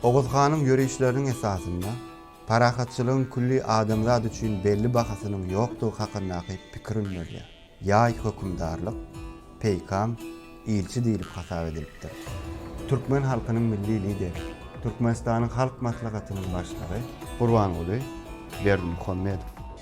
Oguz hanyň ýörişleriniň esasynda parahatçylygyň külli adamzat üçin belli bahasynyň ýokdugy hakyndaky pikir öndürilýär. Ýaý hökümdarlyk, peýkam, ilçi diýlip hasap edilipdir. Türkmen halkynyň Milli Lideri, Türkmenistanyň Halk Maslahatynyň Başlygy, Gurbanguly Berdimuhamedow.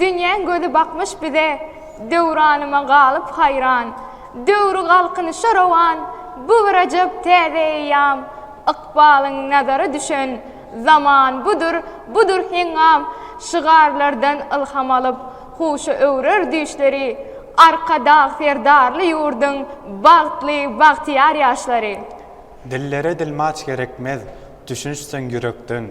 Dünýäň gözi bakmyş bize, Döwranyma galyp haýran. Döwri galkynyşa rowan, Bu bir ajap täze eýýam. Ykbalyň nazary düşen, Zaman budur, budur heňňam. Şygarlardan ylham alyp, Huşa öwrer düýşleri Arkadag Serdarly ýurduň bagtly, bagtyýar ýaşlary. Dillere dilmaç gerekmez, düşünişseň ýürekden,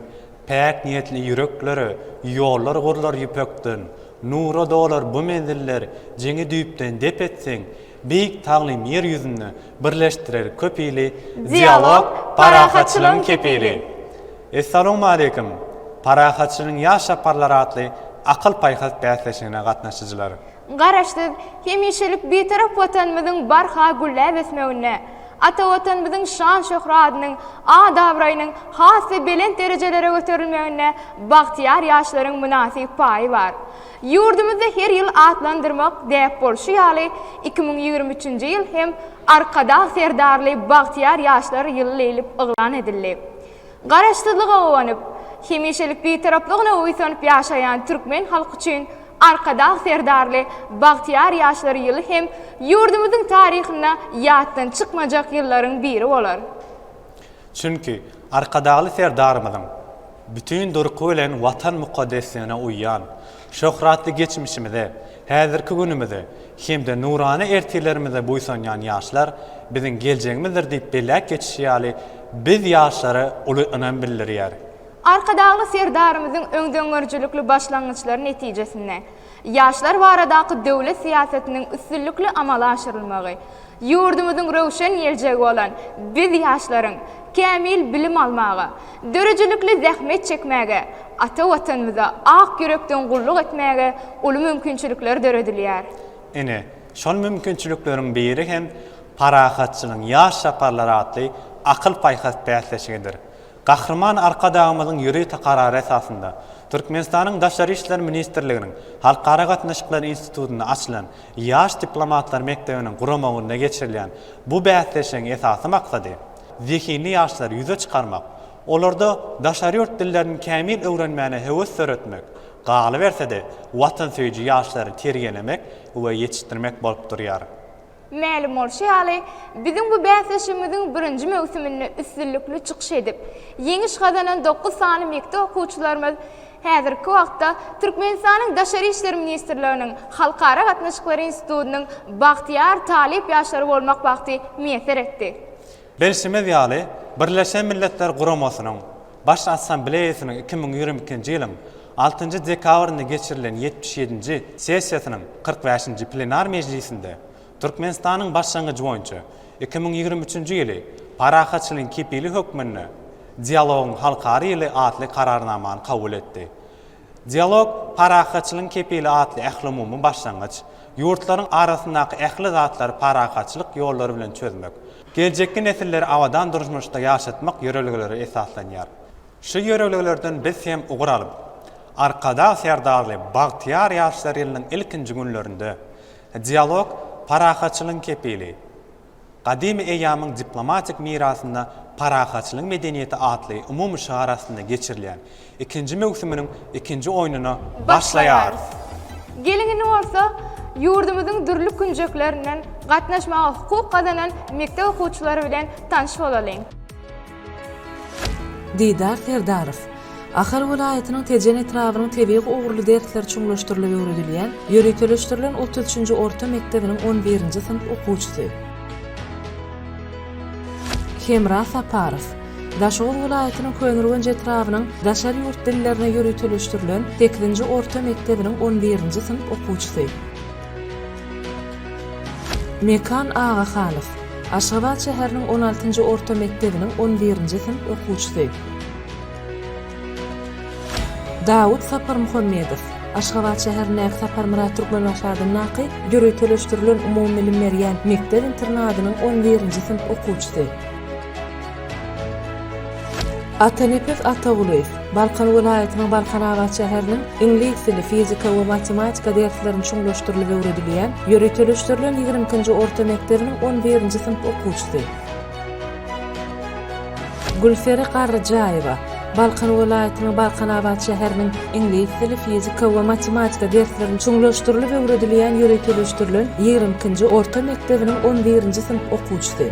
Päk niýetli ýüreklere ýollar gurlar ýüpekden. Nura dolar bu menziller, jeňi düýpden dep etseň, Beýik Taglym ýer ýüzünde Birleşdirer köp ili Dialog, parahatçylygyň kepili. Essalamualeýkum! Parahatçylygyň ýaş çaparlary atly akyl-paýhas bäsleşigine gatnaşyjylar! Garaşsyz, hemişelik Bitarap Watanymyzyň barha gülläp ösmeginde, ata Watanymyzyň şan-şöhratynyň, at-abraýynyň has-da belent derejelere göterilmeginde bagtyýar ýaşlaryň mynasyp paýy bar. Ýurdumyzda her ýyl atlandyrmak däp bolşy ýaly, iki müň ýigrimi üçünji ýyl hem Arkadag Serdarly bagtyýar ýaşlar ýyly leýlip yglan edildi. Garaşsyzlyga guwanyp, hemişelik Bitaraplygyna buýsanyp ýaşaýan türkmen halky üçin Arkadag Serdarly bagtyýar ýaşlar ýyly hem ýurdumyzyň taryhynda ýatdan çykmajak ýyllaryň biri bolar. Çünki Arkadagly Serdarymyzyň Bütin durky bilen Watan mukaddesligine uýýan, şöhratly geçmişimize, häzirki günümize hem-de nurana ertirlerimize buýsanýan ýaşlar biziň geljegimizdir diýip belläp geçişi ýaly, biz ýaşlara uly ynam bildirýäris. Arkadagly Serdarymyzyň öňdengörüjilikli başlangyçlary netijesinde, Ýaşlar baradaky döwlet syýasatynyň üstünlikli amala aşyrylmagy, ýurdumyzyň röwşen geljegi bolan biz ýaşlaryň kämil bilim almaga, döredijilikli zähmet çekmäge, ata Watanymyza ak ýürekden gulluk etmäge uly mümkinçilikler döredilýär. Ine, şol mümkinçilikleriň biri hem Parahatçylygyň ýaş çaparlary atly akyl-paýhas bäsleşigidir. Gahryman Arkadagymyzyň ýörite Karary esasynda, Türkmenistanyň Daşary işler ministrliginiň Halkara gatnaşyklary institutynda açylan Ýaş diplomatlar mekdebiniň guramagynda geçirilýän bu bäsleşigiň esasy maksady, zehinli ýaşlary ýüze çykarmak, olarda daşary ýurt dillerini kämil öwrenmäne höwes döretmek, galyberse-de, watansöýüji ýaşlary terbiýelemek we ýetişdirmek bolup durýar. Mälim bolşy ýaly, biziň bu bäsleşigimiziň birinji möwsüminde üstünlikli çykyş edip, ýeňiş gazanan dokuz sany mekdep okuwçylarymyz häzirki wagtda Türkmenistanyň Daşary işler ministrliginiň Halkara gatnaşyklary institutynyň bagtyýar talyp ýaşlary bolmak bagty miýesser etdi. Belşimiz ýaly, Birleşen Milletler Guramasynyň Baş Assambleýasynyň iki müň ýigrimi ikinji ýylyň altynjy dekabrynda geçirilen ýetmiş ýedinji sessiýasynyň kyrk bäşinji plenar mejlisinde Türkmenistanyň başlangyjy boýunça iki müň ýigrimi üçünji ýyly Parahatçylygyň kepili hökmünde Dialogyň halkara ýyly atly Kararnamany kabul etdi. Dialog, parahatçylygyň kepili atly ählumumy başlangyç. Ýurtlaryň arasyndaky ähli zatlary parahatçylyk ýollary bilen çözmek, geljekki nesilleri abadan durmuşda ýaşatmak ýörelgelere esaslanýar. Şu ýörelgelerden biz hem ugur alyp, Arkadag Serdarly bagtyýar ýaşlar ýylynyň ilkinji günlerinde Dialog, parahatçylygyň kepili, Gadymy eýýamyň diplomatik mirasynda parahatçylygyň medeniýeti atly umumy şygar astynda geçirilýän ikinji möwsüminiň ikinji oýnuna başlaýarys! Geliň indi bolsa, ýurdumyzyň dürli künjeklerinden gatnaşmaga hukuk gazanan mekdep okuwçylary bilen tanyş bolalyň. Didar Serdarow, Ahal welaýatynyň Tejen etrabynyň tebigy ugurly dersler çuňlaşdyrylyp öwredilýän ýöriteleşdirilen otuz üçünji orta mekdebiniň on birinji synp okuwçysy. Hemra Saparow, Daşoguz welaýatynyň Köneürgenç etrabynyň Daşary ýurt dillerine ýöriteleşdirilen sekizinji orta mekdebiniň on birinji synp okuwçysy. Mekan Agahanow, Aşgabat şäheriniň on altynjy orta mekdebiniň on birinji synp okuwçysy. Dawut Saparmuhammedow, Aşgabat şäherindäki Saparmyrat Türkmenbaşy adyndaky ýöriteleşdirilen umumybilim berýän mekdep-internadynyň on birinji synp okuwçysy. Atanepes Atagulyýew, Balkan welaýatynyň Balkanabat şäheriniň iňlis dili, fizika we matematika derslerini çuňlaşdyrylyp öwredilýän ýöriteleşdirilen ýigrimi ikinji orta mekdebiniň on birinji synp okuwçysy. Gülsere Garryjaýewa, Balkan welaýatynyň Balkanabat şäheriniň iňlis dili, fizika we matematika derslerini çuňlaşdyrylyp öwredilýän ýöriteleşdirilen ýigrimi ikinji orta mekdebiniň on birinji synp okuwçysy.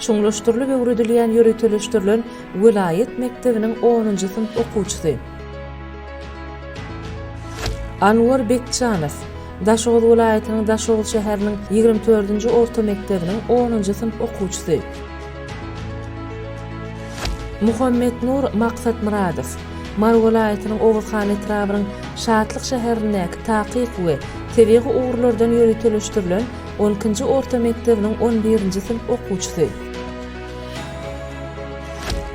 Çuňlaşdyrylyp öwredilýän ýöriteleşdirilen welaýat mekdebiniň onunjy synp okuwçysy. Anwar Bekjanow, Daşoguz welaýatynyň Daşoguz şäheriniň ýigrimi dördünji orta mekdebiniň onunjy synp okuwçysy. Muhammetnur Maksatmyradow, Mary welaýatynyň Oguzhan etrabynyň Şatlyk şäherindäki takyk we tebigy ugurlardan ýöriteleşdirilen On ikinji orta mekdebiniň on birinji synp okuwçysy.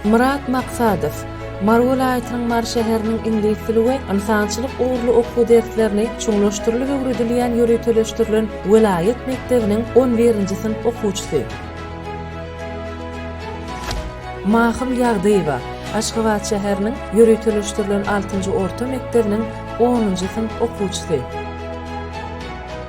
Myrat Maksadow, Mary welaýatynyň Mary şäheriniň iňlis dili we ynsançylyk ugurly okuw derslerini çuňlaşdyrylyp öwredilýän ýöriteleşdirilen welaýat mekdebiniň on birinji synp okuwçysy. Mahym Ýagdyýewa, Aşgabat şäheriniň ýöriteleşdirilen altynjy orta mekdebiniň onunjy synp okuwçysy.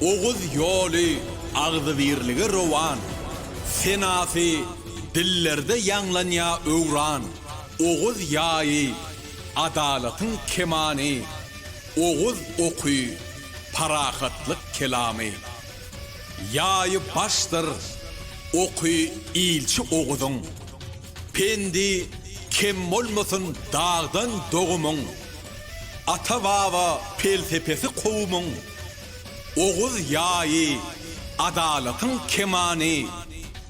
Oguz ýoly agzybirlige rowan, Senasy dillerde ýaňlanýa öwran. Oguz ýaýy, adalatyň kemany, Oguz oky, parahatlyk kelamy. Ýaýy başdyr, oky ilçi Oguzyň, Pendi kem bolmasyn dagdan dogumyň. Ata-baba pelsepesi kowumyň Oguz ýaýy, adalatyň kemany,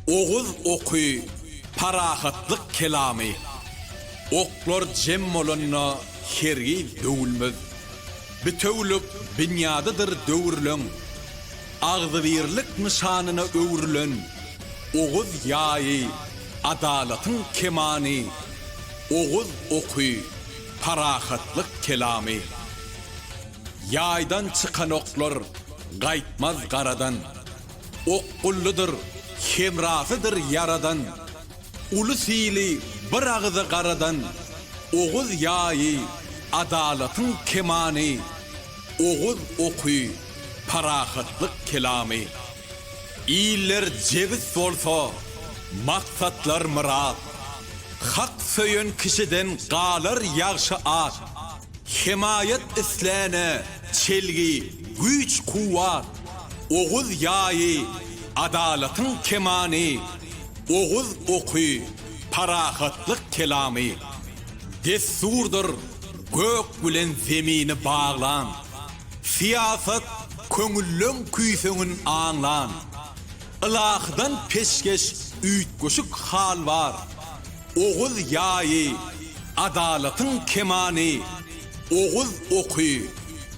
Oguz oky, parahatlyk kelamy. Oklar jem bolanda hergiz döwülmez. Bitewülik binýadydyr döwürleň, Agzybirlik nyşanyna öwrülen Oguz ýaýy, adalatyň kemany, Oguz oky, Parahatlyk kelamy. Ýaýdan çykan oklar gaýtmaz garadan. Okgullydyr, hemrasydyr ýaradan. Uly syly bir agyza garadan. Oguz ýaýy, adalatyň kemany. Oguz oky, parahatlyk kelamy. Iller jebis bolsa, maksatlar myrat. Hak söýen kişiden galar ýagşy at. Hemaýat isläne çelgi, güýç-kuwwat. Oguz ýaýy, adalatyň kemany. Oguz oky, parahatlyk kelamy. Dessurdyr gök bilen zemini baglan. Syýasat köňülleň küýseňin aňlan. Ylahydan peşgeş üýtgeşik hal bar. Oguz ýaýy, adalatyň kemany, Oguz oky,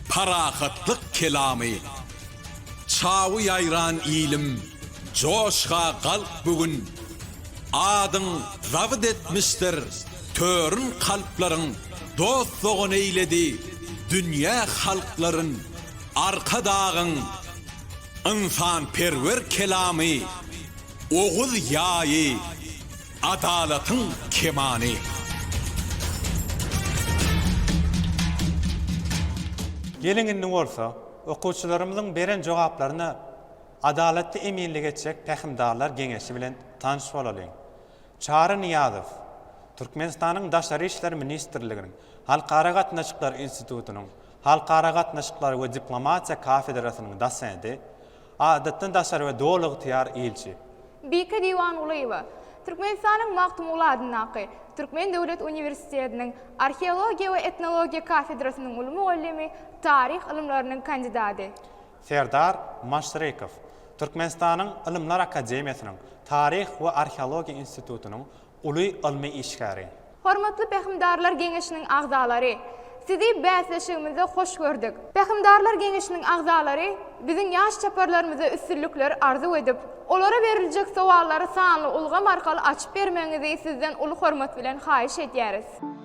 parahatlyk kelamy. Çawy ýaýran ilim, joşga galk bu gün. Adyň zabyt etmişdir törün kalplaryň Dost-dogan eýledi dünýä halklaryn Arkadagyň ynsanperwer kelamy Oguz ýaýy adalatyň kemany. Geliň indi bolsa, okuwçylarymyzyň beren jogaplaryna Adalatly eminlik etjek Pähimdarlar geňeşi bilen tanyş bolalyň. Çary Nyýazow, Türkmenistanyň Daşary işler ministrliginiň Halkara gatnaşyklary institutynyň Halkara gatnaşyklary we diplomatiýa kafedrasynyň dosenti, Adatdan daşary we Doly ygtyýar ilçi. Bike Diwangulyýewa, Türkmenistanyň Magtymguly adyndaky Türkmen döwlet uniwersitetiniň Arheologiýa we etnologiýa kafedrasynyň uly mugallymy, taryh ylymlarynyň kandidady. Serdar Maşrekow Türkmenistanyň Ylymlar akademiýasynyň Taryh we arheologiýa institutynyň uly ylmy işgäri. Hormatly Pähimdarlar geňeşiniň agzalary! Sizi bäsleşigimizde hoş gördük! Pähimdarlar geňeşiniň agzalary biziň ýaş çaparlarymyza üstünlikler arzuw edip, olara beriljek sowallary sanly ulgam arkaly açyp bermegiňizi sizden uly hormat bilen haýyş edýäris.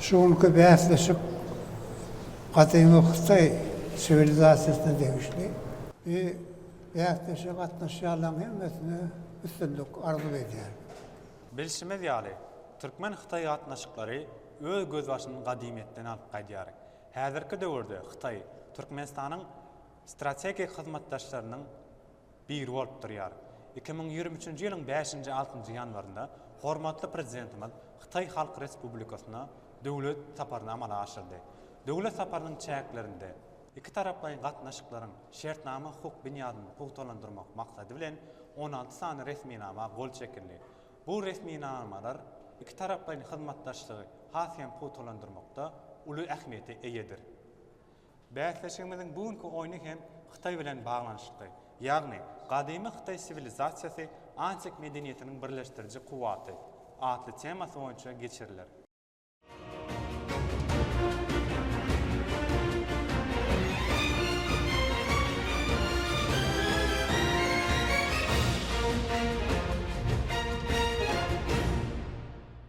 Şu günki bäsleşik gadymy Hytaý siwilizasiýasyna degişli. Bu bäsleşige gatnaşýanlaryň hemmesine üstünlik arzuw edýärin. Bilşimiz ýaly, türkmen-hytaý gatnaşyklary öz gözbaşyny gadymyýetden alyp gaýdýar. Häzirki döwürde Hytaý Türkmenistanyň strategik hyzmatdaşlarynyň biri bolup durýar. Iki müň ýigrimi üçünji ýylyň bäşinji, altynjy ýanwarynda hormatly Prezidentimiz Hytaý Halk Respublikasyna döwlet saparyny amala aşyrdy. Döwlet saparynyň çäklerinde ikitaraplaýyn gatnaşyklaryň şertnama-hukuk binýadyny pugtalandyrmak maksady bilen, on alty sany resminama gol çekildi. Bu resminamalar ikitaraplaýyn hyzmatdaşlygy has hem pugtalandyrmakda uly ähmiýete eýedir. Bäsleşigimiziň bu günki oýny hem Hytaý bilen baglanyşykly. Ýagny, Gadymy Hytaý siwilizasiýasy, antik medeniýetiniň birleşdiriji kuwwaty atly temasy boýunça geçiriler.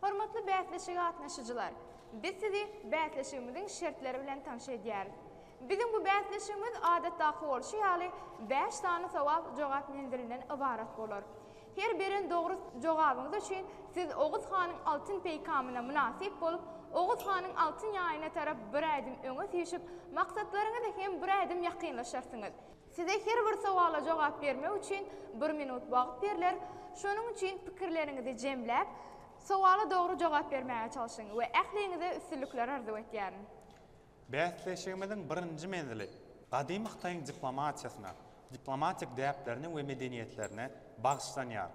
Hormatly bäsleşige gatnaşyjylar! Biz sizi bäsleşigimiziň şertleri bilen tanş edýäris. Biziň bu bäsleşigimiz adatdaky bolşy ýaly bäş sany sowal-jogap menzilinden ybarat bolar. Her beren dogry jogabyňyz üçin siz Oguz hanyň altyn peýkamyna mynasyp bolup, Oguz hanyň altyn ýaýyna tarap bir ädim öňe süýşüp, maksatlaryňyza hem bir ädim ýakynlaşarsyňyz. Size her bir sowala jogap bermek üçin bir minut wagt berler, şonuň üçin pikirleriňizi jemläp, sowala dogry jogap bermäge çalşyň we ähliňize üstünlikler arzuw etýärin. Bäsleşigimiziň birinji menzili gadymy Hytaýyň diplomatiýasyna, diplomatik däplerine we medeniýetlerine bagyşlanýar.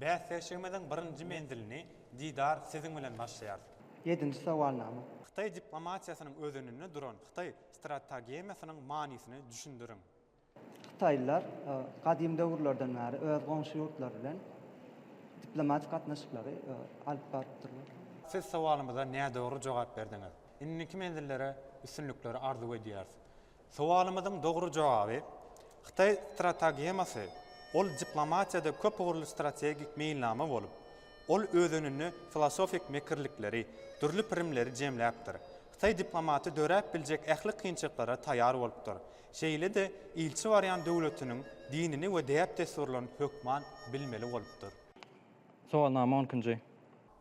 Bäsleşigimiziň birinji menzilini Didar siziň bilen başlaýarys. Ýedinji sowalnama. Hytaý diplomatiýasynyň özeninde duran hytaý stratagemiýasynyň manysyny düşündiriň. Hytaýlylar gadym döwürlerden bäri öz goňşy ýurtlary bilen diplomatik gatnaşyklary alyp barypdyrlar. Siz sowalymyza nädogry jogap berdiňiz. Indiki menzillere üstünlikleri arzuw edýäris. Sowalymyzyň dogry jogaby, Hytaý stratagemasy, ol diplomatiýada köp ugurly strategik meýilnama bolup, ol özeninde filosofik mekirlikleri, dürli pirimleri jemläpdir. Hytaý diplomaty döräp biljek ähli kynçylyklara taýar bolupdyr. Şeýle-de ilçi barýan döwletiniň dinini we däp-dessurlaryny hökman bilmeli bolupdyr. Sowalnama on ikinji.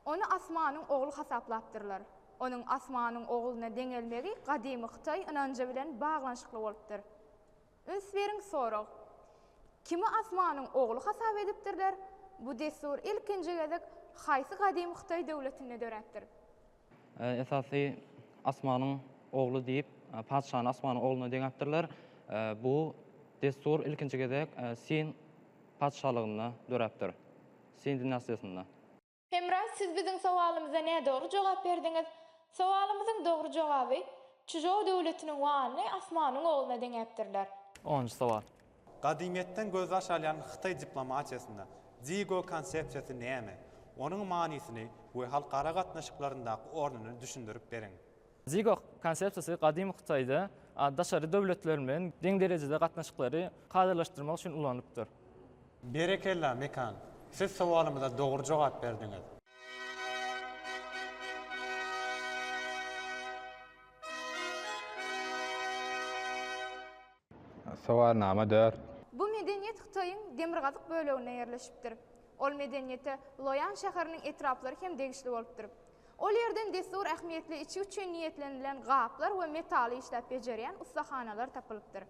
Ony asmanyň ogly hasaplapdyrlar. Onuň asmanyň ogluna deňelmegi gadymy hytaý ynanjy bilen baglanyşykly bolupdyr. Üns beriň sorag. Kimi asmanyň ogly hasap edipdirler? Bu dessur ilkinji gezek haýsy gadymy hytaý döwletinde döräpdir? Esasy Asmanyň ogly diýip, patyşany Asmanyň ogluna deňäpdirler. Bu dessur ilkinji gezek Sin patyşalygynda döräpdir. Sin dinastiýasynda. Hemra, siz biziň sowalymyza nädogry jogap berdiňiz. Sowalymyzyň dogry jogaby, Çžou döwletiniň wanyny Asmanyň ogluna deňäpdirler. Onunjy sowal. Gadymyýetden gözbaş alýan hytaý diplomatiýasynda Digo konsepsiýasy näme? Onuň manysyny we halkara gatnaşyklaryndaky ornuny düşündirip beriň. Digo konsepsiýasy gadymy Hytaýda daşary döwletler bilen deň derejede gatnaşyklary kadalaşdyrmak üçin ulanylypdyr. Berekella, Mekan! Siz sowalymyza dogry jogap berdiňiz. Sowalnama dört. Bu medeniýet Hytaýyň demirgazyk böleginde ýerleşipdir. Ol medeniýete Loýan şäheriniň etraplary hem degişli bolupdyr. Ol ýerden dessur ähmiýetli içgi üçin niýetlenilen gaplar we metaly işläp bejerýän ussahanalar tapylypdyr.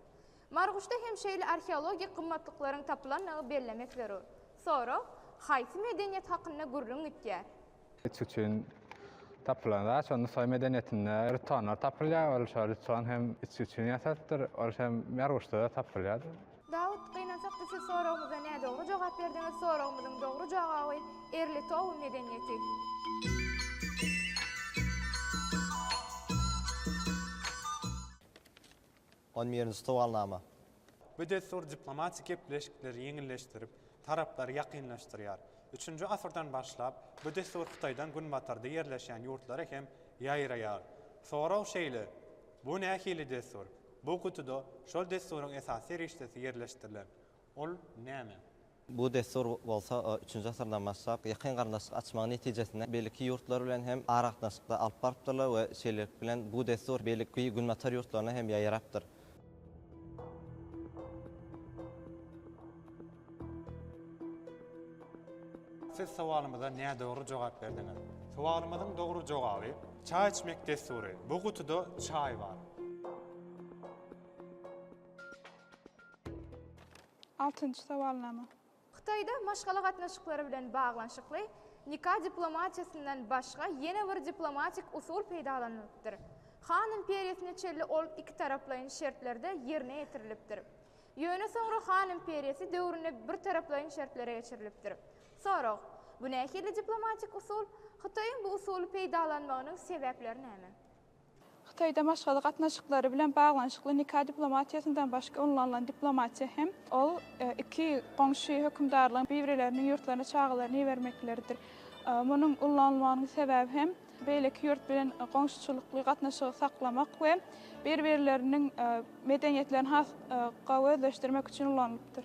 Marguşda hem şeýle arheologik gymmatlyklaryň tapylandygy bellemek zerur. Sorag, Haýsy medeniýet hakynda gürrüň gitýär? Üç üçin tapylan zat şo Nusaý medeniýetinde rütganlar tapylýar. Ol şo rütgan hem üç üçin ýasalypdyr. Ol hem Merwuşda-da tapylýar. Dawut, gynansak da siz soragymyza nädogry jogap berdiňiz, soragymyzyň dogry jogaby Erli Tow medeniýeti. On birinji sowalnama. Bu dessur diplomatik gepleşikleri ýeňilleşdirip, taraplary ýakynlaşdyrýar. Üçünji asyrdan başlap, bu dessur Hytaýdan günbatarda ýerleşýän ýurtlara hem ýaýraýar. Sorag şeýle, Bu nähili dessur? Bu gutuda şol dessuryň esasy serişdesi ýerleşdirilen. Ol näme? Bu dessur bolsa üçünji asyrdan başlap, ýakyn garyndaşlyk açmagyň netijesinde beýleki ýurtlar bilen hem aragatnaşykda alyp barypdyrlar we şeýlelik bilen bu dessur beýleki günbatar ýurtlaryna hem ýaýrapdyr. Siz sowalymyza nädogry jogap berdiňiz. Sowalymyzyň dogry jogaby, Çaý içmek dessury. Bu gutuda çaý bar. Altynjy sowalnama. Hytaýda maşgala gatnaşyklary bilen baglanyşykly nika diplomatiýasyndan başga ýene bir diplomatik usul peýdalanylypdyr. Han imperiýasyna çenli ol ikitaraplaýyn şertlerde ýerine ýetirilipdir. Ýöne soňra Han imperiýasy döwründe birtaraplaýyn şertlere geçirilipdir. Sorag, Bu nähili diplomatik usul? Hytaýyň bu usuly peýdalanmagynyň sebäpleri näme? Hytaýda maşgala gatnaşyklary bilen baglanyşykly nika diplomatiýasyndan başga ulanylan diplomatiýa hem ol iki goňşy hökümdarlygyň bibreleriniň ýurtlaryna çagalaryny ibermekleridir. Munuň ulanylmagynyň sebäbi hem beýleki ýurt bilen goňşuçylykly gatnaşygy saklamak we bir-birleriniň medeniýetlerini has gowy özleşdirmek üçin ulanylypdyr.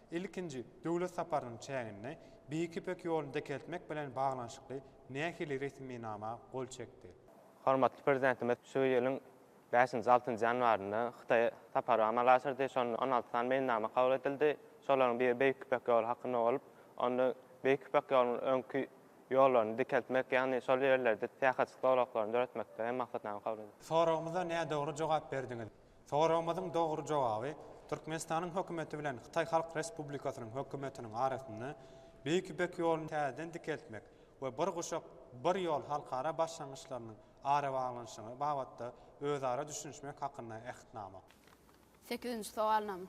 Ilkinji döwlet saparynyň çäginde Beýik Ýüpek ýoluny dikeltmek bilen baglanyşykly nähili resminama gol çekdi? Hormatly Prezidentimiz şu ýylyň bäşinji, altynjy ýanwarynda Hytaýa sapar amala aşyrdy. Şonda on alty sany meýilnama kabul edildi. Şolaryň biri Beýik Ýüpek ýoly hakynda bolup, onda Beýik Ýüpek ýolunyň öňki ýollaryny dikeltmek, ýagny şol ýerlerde syýahatçylyk zolaklaryny döretmekde hem maksatnama kabul edildi. Soragymyza nädogry jogap berdiňiz. Soragymyzyň dogry jogaby Türkmenistanyň hökümeti bilen Hytaý Halk Respublikasynyň hökümetiniň arasynda Beýik Ýüpek ýoluny täzeden dikeltmek we Bir guşak, bir ýol halkara başlangyçlarynyň arabaglanyşygy babatda özara düşünişmek hakynda Ähtnama. Sekizinji sogalnama.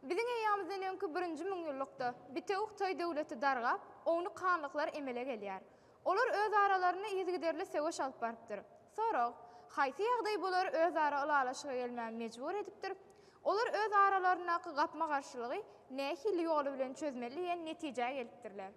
Biziň eýýamyzdan öňki birinji müňýyllykda bitewi Hytaý döwleti dargap, ownuk hanlyklar emele gelýär. Olar öz aralarynda yzygiderli söweş alyp barypdyr. Sorag, Haýsy ýagdaý bulary özara ylalaşyga gelmäge mejbur edipdir? Olar öz aralaryndaky gapma-garşylygy nähili ýoly bilen çözmeli diýen netijä gelipdirler.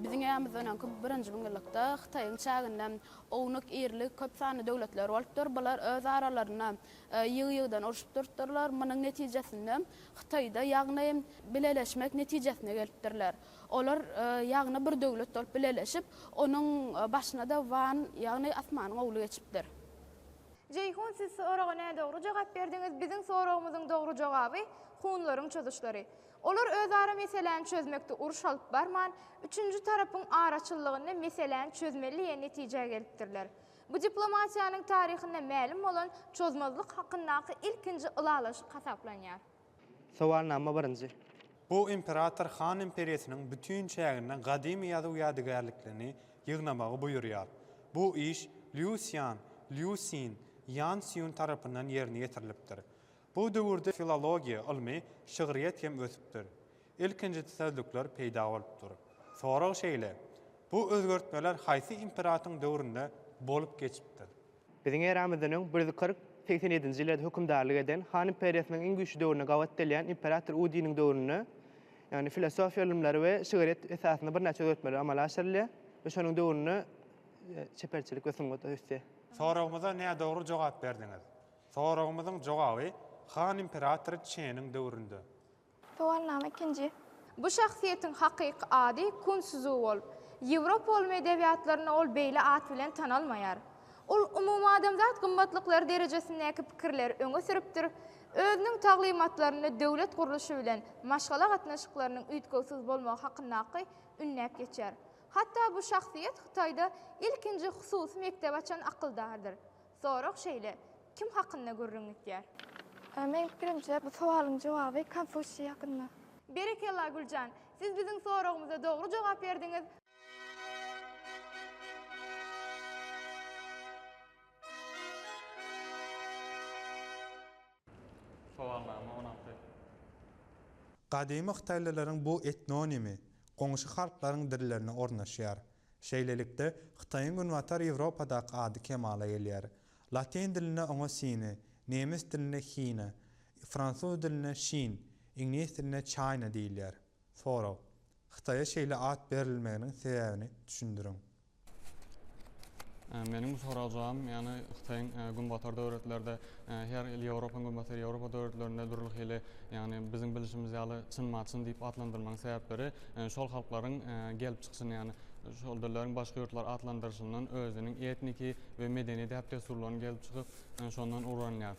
Biziň ýamyz öňki birinji müňýyllykda Hytaýyň çäginde ownuk, irili, köp sanly döwletler bolupdyr. Bular öz aralarynda ýygy-ýygydan urşup durupdyrlar. Munuň netijesinde Hytaýda ýagny bileleşmek netijesine gelipdirler. Olar ýagny bir döwlet bolup bileleşip, onuň başyna-da Wan, ýagny Asmanyň ogly geçipdir. Jeýhun siz soraga nädogry jogap berdiňiz biziň soragymyzyň dogry jogaby hunlaryň çozuşlary. Olar özara meseläni çözmekde uruş alyp barman, üçünji tarapyň araçyllygynda meseläni çözmeli diýen netijä gelipdirler. Bu diplomatiýanyň taryhynda mälim bolan çozmazlyk hakyndaky ilkinji ylalaşyk hasaplanýar. Sowalnama birinji. Bu imperator Han imperiýasynyň bütin çäginden gadymy ýazuw ýadygärliklerini ýygnamagy buýurýar. Bu iş Lýu Sýan, Liu Sin, Ýan Sýun tarapyndan ýerine ýetirilipdir. Bu döwürde filologiýa ylmy, şygryýet hem ösüpdir. Ilkinji sözlükler peýda bolupdyr. Sorag şeýle, bu özgertmeler haýsy imperatyň döwründe bolup geçipdir? Biziň eramyzdan öň bir ýüz kyrk segsen ýedinji ýyllarda hökümdarlyk eden Han imperiýasynyň iň güýçli döwrüne gabat gelýän imperator Udiniň döwründe, ýagny filosofiýa ylymlary we şygryýet esasynda birnäçe özgertmeler amala aşyrylýar we şonuň döwründe çeperçilik we sungat ösýär. Soragymyza nädogry jogap berdiňiz. Soragymyzyň jogaby Han imperatory Çeniň döwründe. Sowalnama ikinji. Bu şahsyýetiň hakyky ady Kun Szywol. Ýewropa ylmy edebiýatlarynda ol beýle at bilen tanalmaýar. Ol umumadamzat gymmatlyklary derejesindäki pikirleri öňe sürüpdir, özüniň taglymatlarynda döwlet gurluşy bilen maşgala gatnaşyklarynyň üýtgewsiz bolmagy hakyndaky ünnäp geçýär. Hatda bu şahsyýet Hytaýda ilkinji hususy mekdebi açan akyldardyr. Sorag şeýle, Kim hakynda gürrüň gitýär? Meniň pikirimçe, bu sowalyň jogaby Konfusýiý hakynda. Berekella, Güljan! Siz biziň soragymyza dogry jogap berdiňiz. Sowalnama on alty. Gadymy hytaýlylaryň bu etnonimi goňşy halklaryň dillerine ornaşýar. Şeýlelikde, Hytaýyň günbatar Ýewropadaky ady kemala gelýär. Latyn dilinde oňa Sine, nemes dilinde Hina, fransuz dilinde Şin, iňlis dilinde Çaýna diýilýär. Sorag. Hytaýa şeýle at berilmeginiň sebäbini düşündiriň. Meniň bu soraga jogabym, ýagny Hytaýyň günbatar döwletlerde, her il Ýewropanyň günbatar Ýewropa döwletlerinde dürli hili, ýagny biziň bilşimiz ýaly çyn-maçyn diýip atlandyrmagyň sebäpleri, şol halklaryň gelip çykyşyny, ýagny şol dilleriň başga ýurtlar atlandyryşyndan özüniň etniki we medeni däp-dessurlaryny gelip çykyp, şondan ugranýar.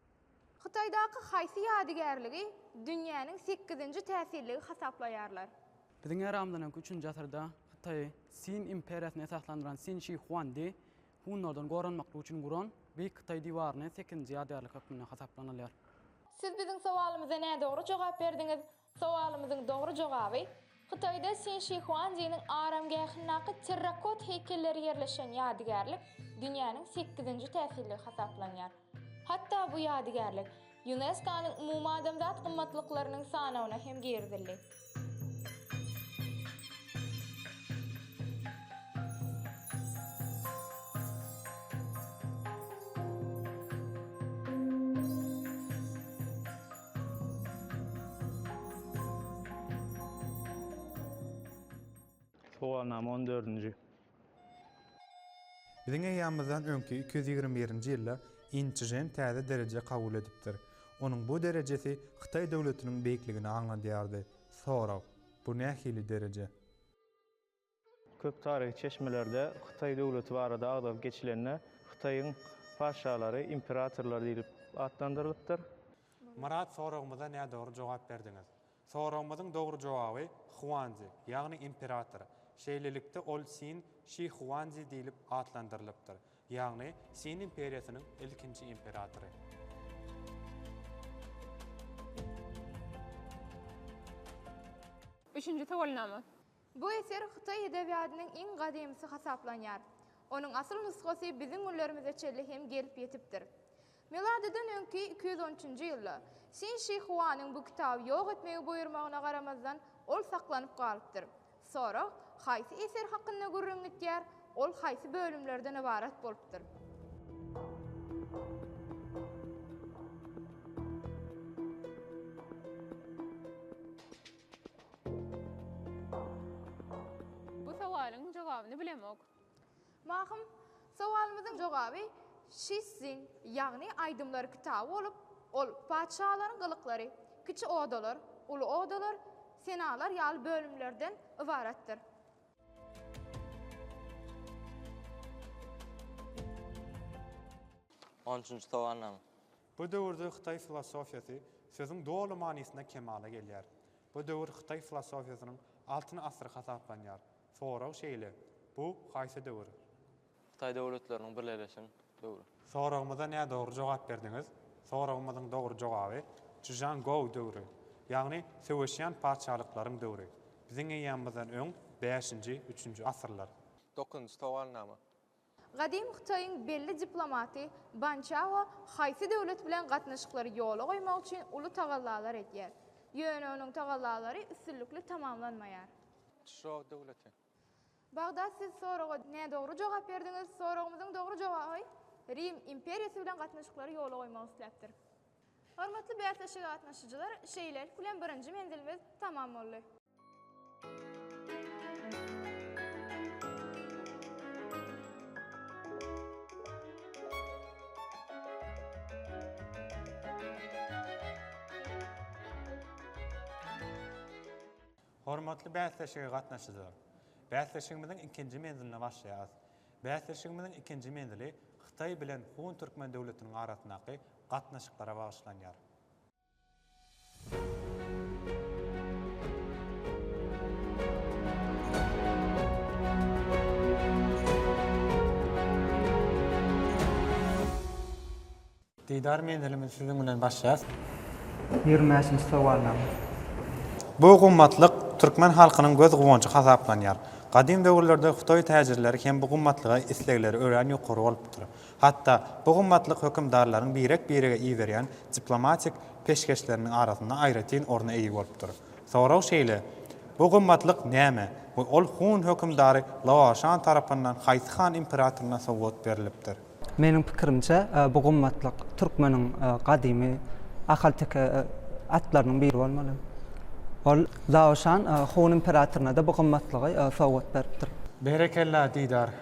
Hytaýdaky haýsy ýadygärligi dünýäniň sekizinji täsirligi hasaplaýarlar? Biziň eramyzdan öňki üçünji asyrda Hytaýy Sin imperiýasyny esaslandyran Sin Şi Huandi hunlardan goranmaklyk üçin guran Beýik Hytaý diwaryny sekizinji ýadygärlik hökmünde hasaplanylýar. Siz biziň sowalymyza nädogry jogap berdiňiz. Sowalymyzyň dogry jogaby, Hytaýda Sinşihuandiniň aramgähindäki terrakot heýkelleri ýerleşen ýadygärlik dünýäniň sekizinji täsirligi hasaplanýar. Hatda bu ýadygärlik Ýunesko-nyň umumadamzat gymmatlyklarynyň sanawyna hem girizildi. Sowalnama on dördünji. Biziň eýýamymyzdan öňki iki ýüz ýigrimi birinji ýylda In Çžen täze dereje kabul edipdir. Onuň bu derejesi Hytaý döwletiniň beýikligini aňladýardy. Sorag, Bu nähili dereje? Köp taryhy çeşmelerde Hytaý döwleti barada agzalyp geçilende Hytaýyň patyşalary imperatorlar diýlip atlandyrylypdyr. Myrat soragymyza nädogry jogap berdiňiz. Soragymyzyň dogry jogaby Huanzi, ýagny imperator. Şeýlelikde ol Sin Şi Huanzi diýlip atlandyrylypdyr. Ýagny Sin imperiýasynyň ilkinji imperatory. Üçünji sowalnama. Bu eser hytaý edebiýadynyň iň gadymysy hasaplanýar. Onuň asyl nusgasy biziň günlerimize çenli hem gelip ýetipdir. Miladydan öňki iki ýüz on üçünji ýylda Sin Şi Huanyň bu kitaby ýok etmegi buýurmagyna garamazdan, ol saklanyp galypdyr. Sorag, Haýsy eser hakynda gürrüň gidýär, ol haýsy bölümlerden ybarat bolupdyr? Bu sowalyň jogabyny bilemok. Mahym, sowalymyzyň jogaby Şiszin, ýagny aýdymlar kitaby bolup, ol Patyşalaryň gylyklary, Kiçi odalar, Uly odalar, Senalar ýaly bölümlerden ybaratdyr. On üçünji sowalyň Bu döwürde hytaý filosofiýasy sözüň doly manysynda kemala gelýär. Bu döwür hytaý filosofiýasynyň altyn asyry hasaplanýar. Sorag şeýle, bu haýsy döwür? Hytaý döwletleriniň birleşen döwri. Soragymyza nädogry jogap berdiňiz. Soragymyzyň dogry jogaby, Çžan Gou döwri, ýagny söweşýän patyşalyklaryň döwri. Biziň eýýamymyzdan öň bäşinji, üçünji asyrlar. Dokuzynjy sowalnama. Gadym Hytaýyň belli diplomaty Ban Çao haýsy döwlet bilen gatnaşyklary ýola goýmak üçin uly tagallalar edýär. Ýöne onuň tagallalary üstünlikli tamamlanmaýar. Çžou döwleti. Bagdat siz soraga nädogry jogap berdiňiz. Soragymyzyň dogry jogaby Rim imperiýasy bilen gatnaşyklary ýola goýmak isläpdir. Hormatly bäsleşige gatnaşyjylar, şeýlelik bilen birinji menzilimiz tamam boldy. Hormatly bäsleşige gatnaşyjylar! Bäsleşigimiziň ikinji menziline başlaýarys. Bäsleşigimiziň ikinji menzili Hytaý bilen Hun Türkmen döwletiniň arasyndaky gatnaşyklara bagyşlanýar. Didar menzilimizi siziň bilen başlaýas. Ýigrimi bäşinji sowalnama. Bu gymmatlyk türkmen halkynyň göz guwanjy hasaplanýar. Gadym döwürlerde Hytaý täjirleri hem bu gymmatlyga islegleri örän ýokary bolupdyr. Hatda bu gymmatlyk hökümdarlaryň birek-birege iberýän diplomatik peşgeşleriniň arasynda aýratyn orna eýe bolupdyr. Sorag şeýle, Bu gymmatlyk näme we ol hun hökümdary Laoşan tarapyndan haýsy han imperatoryna sowgat berlipdir? Meniň pikirimçe, bu gymmatlyk türkmeniň gadymy ahalteke atlarynyň biri bolmaly. Ol Laoşan hun imperatoryna-da bu gymmatlygy sowgat beripdir. Berekella, Didar!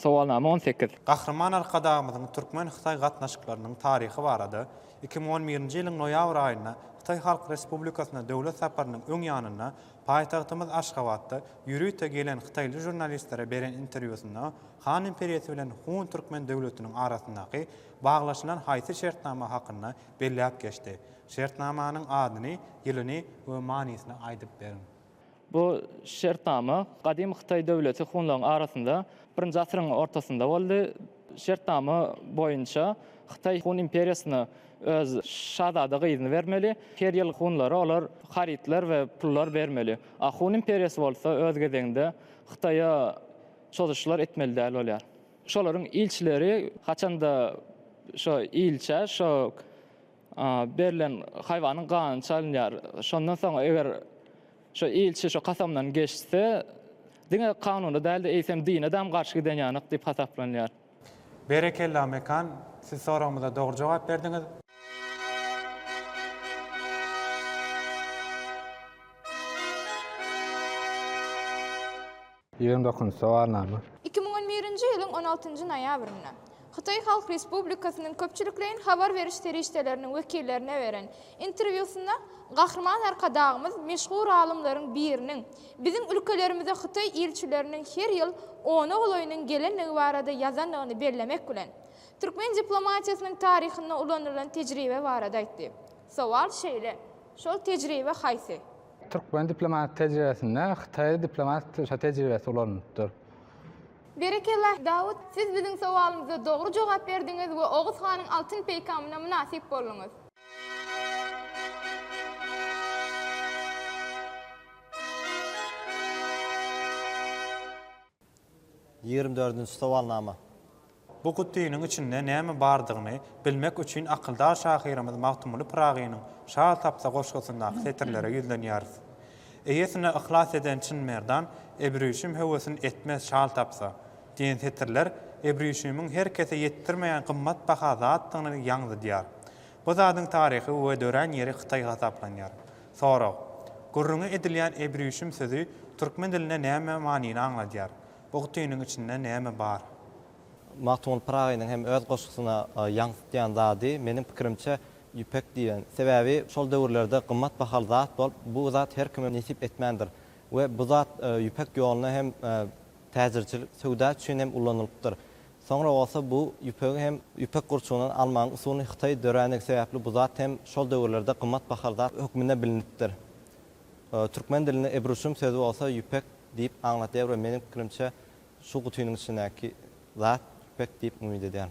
Sowalnama on sekiz. Gahryman Arkadagymyzyň türkmen-hytaý gatnaşyklarynyň taryhy barada iki müň on birinji ýylyň noýabr aýynda Hytaý Halk Respublikasyna döwlet saparynyň öň ýanynda paýtagtymyz Aşgabatda ýörite gelen hytaýly žurnalistlere beren interwýusynda Han imperiýasy bilen Hun türkmen döwletiniň arasyndaky baglaşylan haýsy şertnama hakynda belläp geçdi? Şertnamanyň adyny, ýylyny we manysyny aýdyp beriň. Bu şertnama gadymy Hytaý döwleti hunlaryň arasynda birinji asyryň ortasynda boldy. Şertnama boýunça Hytaý Hun imperiýasyna öz şazada gyzyny bermeli, her ýyl hunlara olar harytlar we pullar bermeli. A Hun imperiýasy bolsa öz gezeginde Hytaýa çozuşlar etmeli däl bolýar. Şolaryň ilçileri haçanda şo ilçä şo Berlen haýwanyň gany çalynýar. Şondan soň eger şo ilçi şo kasamdan geçse, diňe kanuna däl-de, eýsem dine dam garşy giden ýanak diýip hasaplanýar. Berekella Mekan, siz soragymyza dogry jogap berdiňiz. Ýygyň dokundysy Sowalnama. Iki müň on birinji ýylyň on altynjy noýabrynda Hytaý Halk Respublikasynyň köpçülikleýin habar beriş serişdeleriniň wekillerine beren interwýusynda Gahryman Arkadagymyz meşhur alymlaryň biriniň biziň ülkelerimize hytaý ilçileriniň her ýyl ona golaýynyň gelendigi barada ýazandygyny bellemek bilen, türkmen diplomatiýasynyň taryhynda ulanylan tejribe barada aýtdy. Sowal şeýle, Şol tejribe haýsy? Türkmen diplomatik tejribesinde Hytaý diplomatik tejribesi ulanylypdyr. Berekella, Dawut! Siz biziň sowalymyza dogry jogap berdiňiz we Oguz hanyň altyn peýkamyna mynasyp bolduňyz. Ýigrimi dördünji sowalnama. Bu gutynyň içinde näme bardygyny bilmek üçin akyldar şahyrymyz Magtymguly Pyragynyň Şal tapsa goşgusyndaky setirlere ýüzlenýäris. Eýesine yhlas eden çyn merdan Ebrüşüm höwesin etmez şal tapsa. Diýen setirler Ebrüşümiň her kese ýetdirmeýän gymmat baha zatdygyny ýaňzydýar. Bu zadyň taryhy we dörän ýeri Hytaý hasaplanýar. Sorag. Gürrüňi edilýän Ebrüşüm sözi türkmen dilinde näme manyny aňladýar? Bu gutynyň içinde näme bar? Magtymguly Pyragynyň hem öz goşgusyna ýaňsytýan zady, meniň pikirimçe, ýüpek diýen. Sebäbi şol döwürlerde gymmat bahaly zat bolup, bu zat her kime nesip etmändir we bu zat ýüpek ýoluna hem täjirçilik, söwda üçin hem ulanylypdyr. Soňra bolsa bu ýüpegi hem ýüpek gurçugyndan almagyň usulyny Hytaý dörändigi sebäpli bu zat hem şol döwürlerde gymmat bahaly zat hökmünde bilinipdir. Türkmen dilinde ebruşum sözi bolsa ýüpek diýip aňladýar we meniň pikirimçe şu gutynyň içindäki zat ýüpek diýip umyt edýän.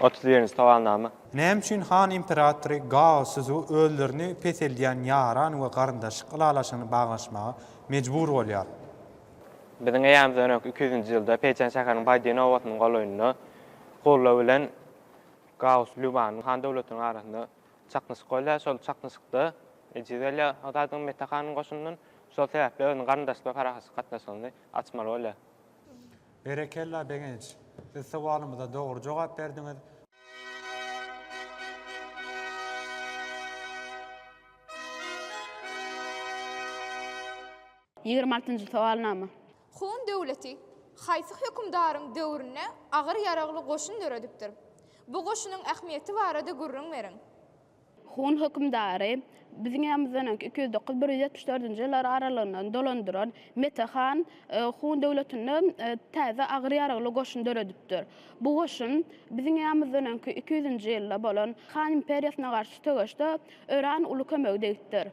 Otuz birinji sowalnama. Näme üçin han imperatory Gao Szu özlerini peseldýän ýaran we garyndaşlyk ylalaşygyny baglaşmaga mejbur bolýar? Biziň eramyzdan öňki iki ýüzünji ýylda Peýçan şäheriniň Baýdiýen obasynyň golaýynda Gulla bilen Gao Lýubanyň han döwletiniň arasynda çaknyşyk bolýar. Şol çaknyşykda ejiz gelýär Hytaýdan Mete hanyň goşunyndan. Şol sebäpli özüniň garyndaşlyk we parahatçylyk gatnaşygyny açmaly bolýar. Berekella Begenç! Biz sowalymyza dogry jogap berdiňiz. Ýigrimi altynjy sowalnama. Hun döwleti haýsy hökümdaryň döwründe agyr ýaragly goşun döredipdir? Bu goşunyň ähmiýeti barada gürrüň beriň. Hun hökümdary Biziň ýanymyzdan öňki iki ýüz dokuz, bir ýüz ýetmiş dördünji ýyllar aralygyndan dolandyran Mete han Hun döwletinde täze agyr ýaragly goşun döredipdir. Bu goşun Biziň ýanymyzdan öňki iki ýüzünji ýylda bolan Han imperiýasyna garşy söweşde örän uly kömegi degipdir.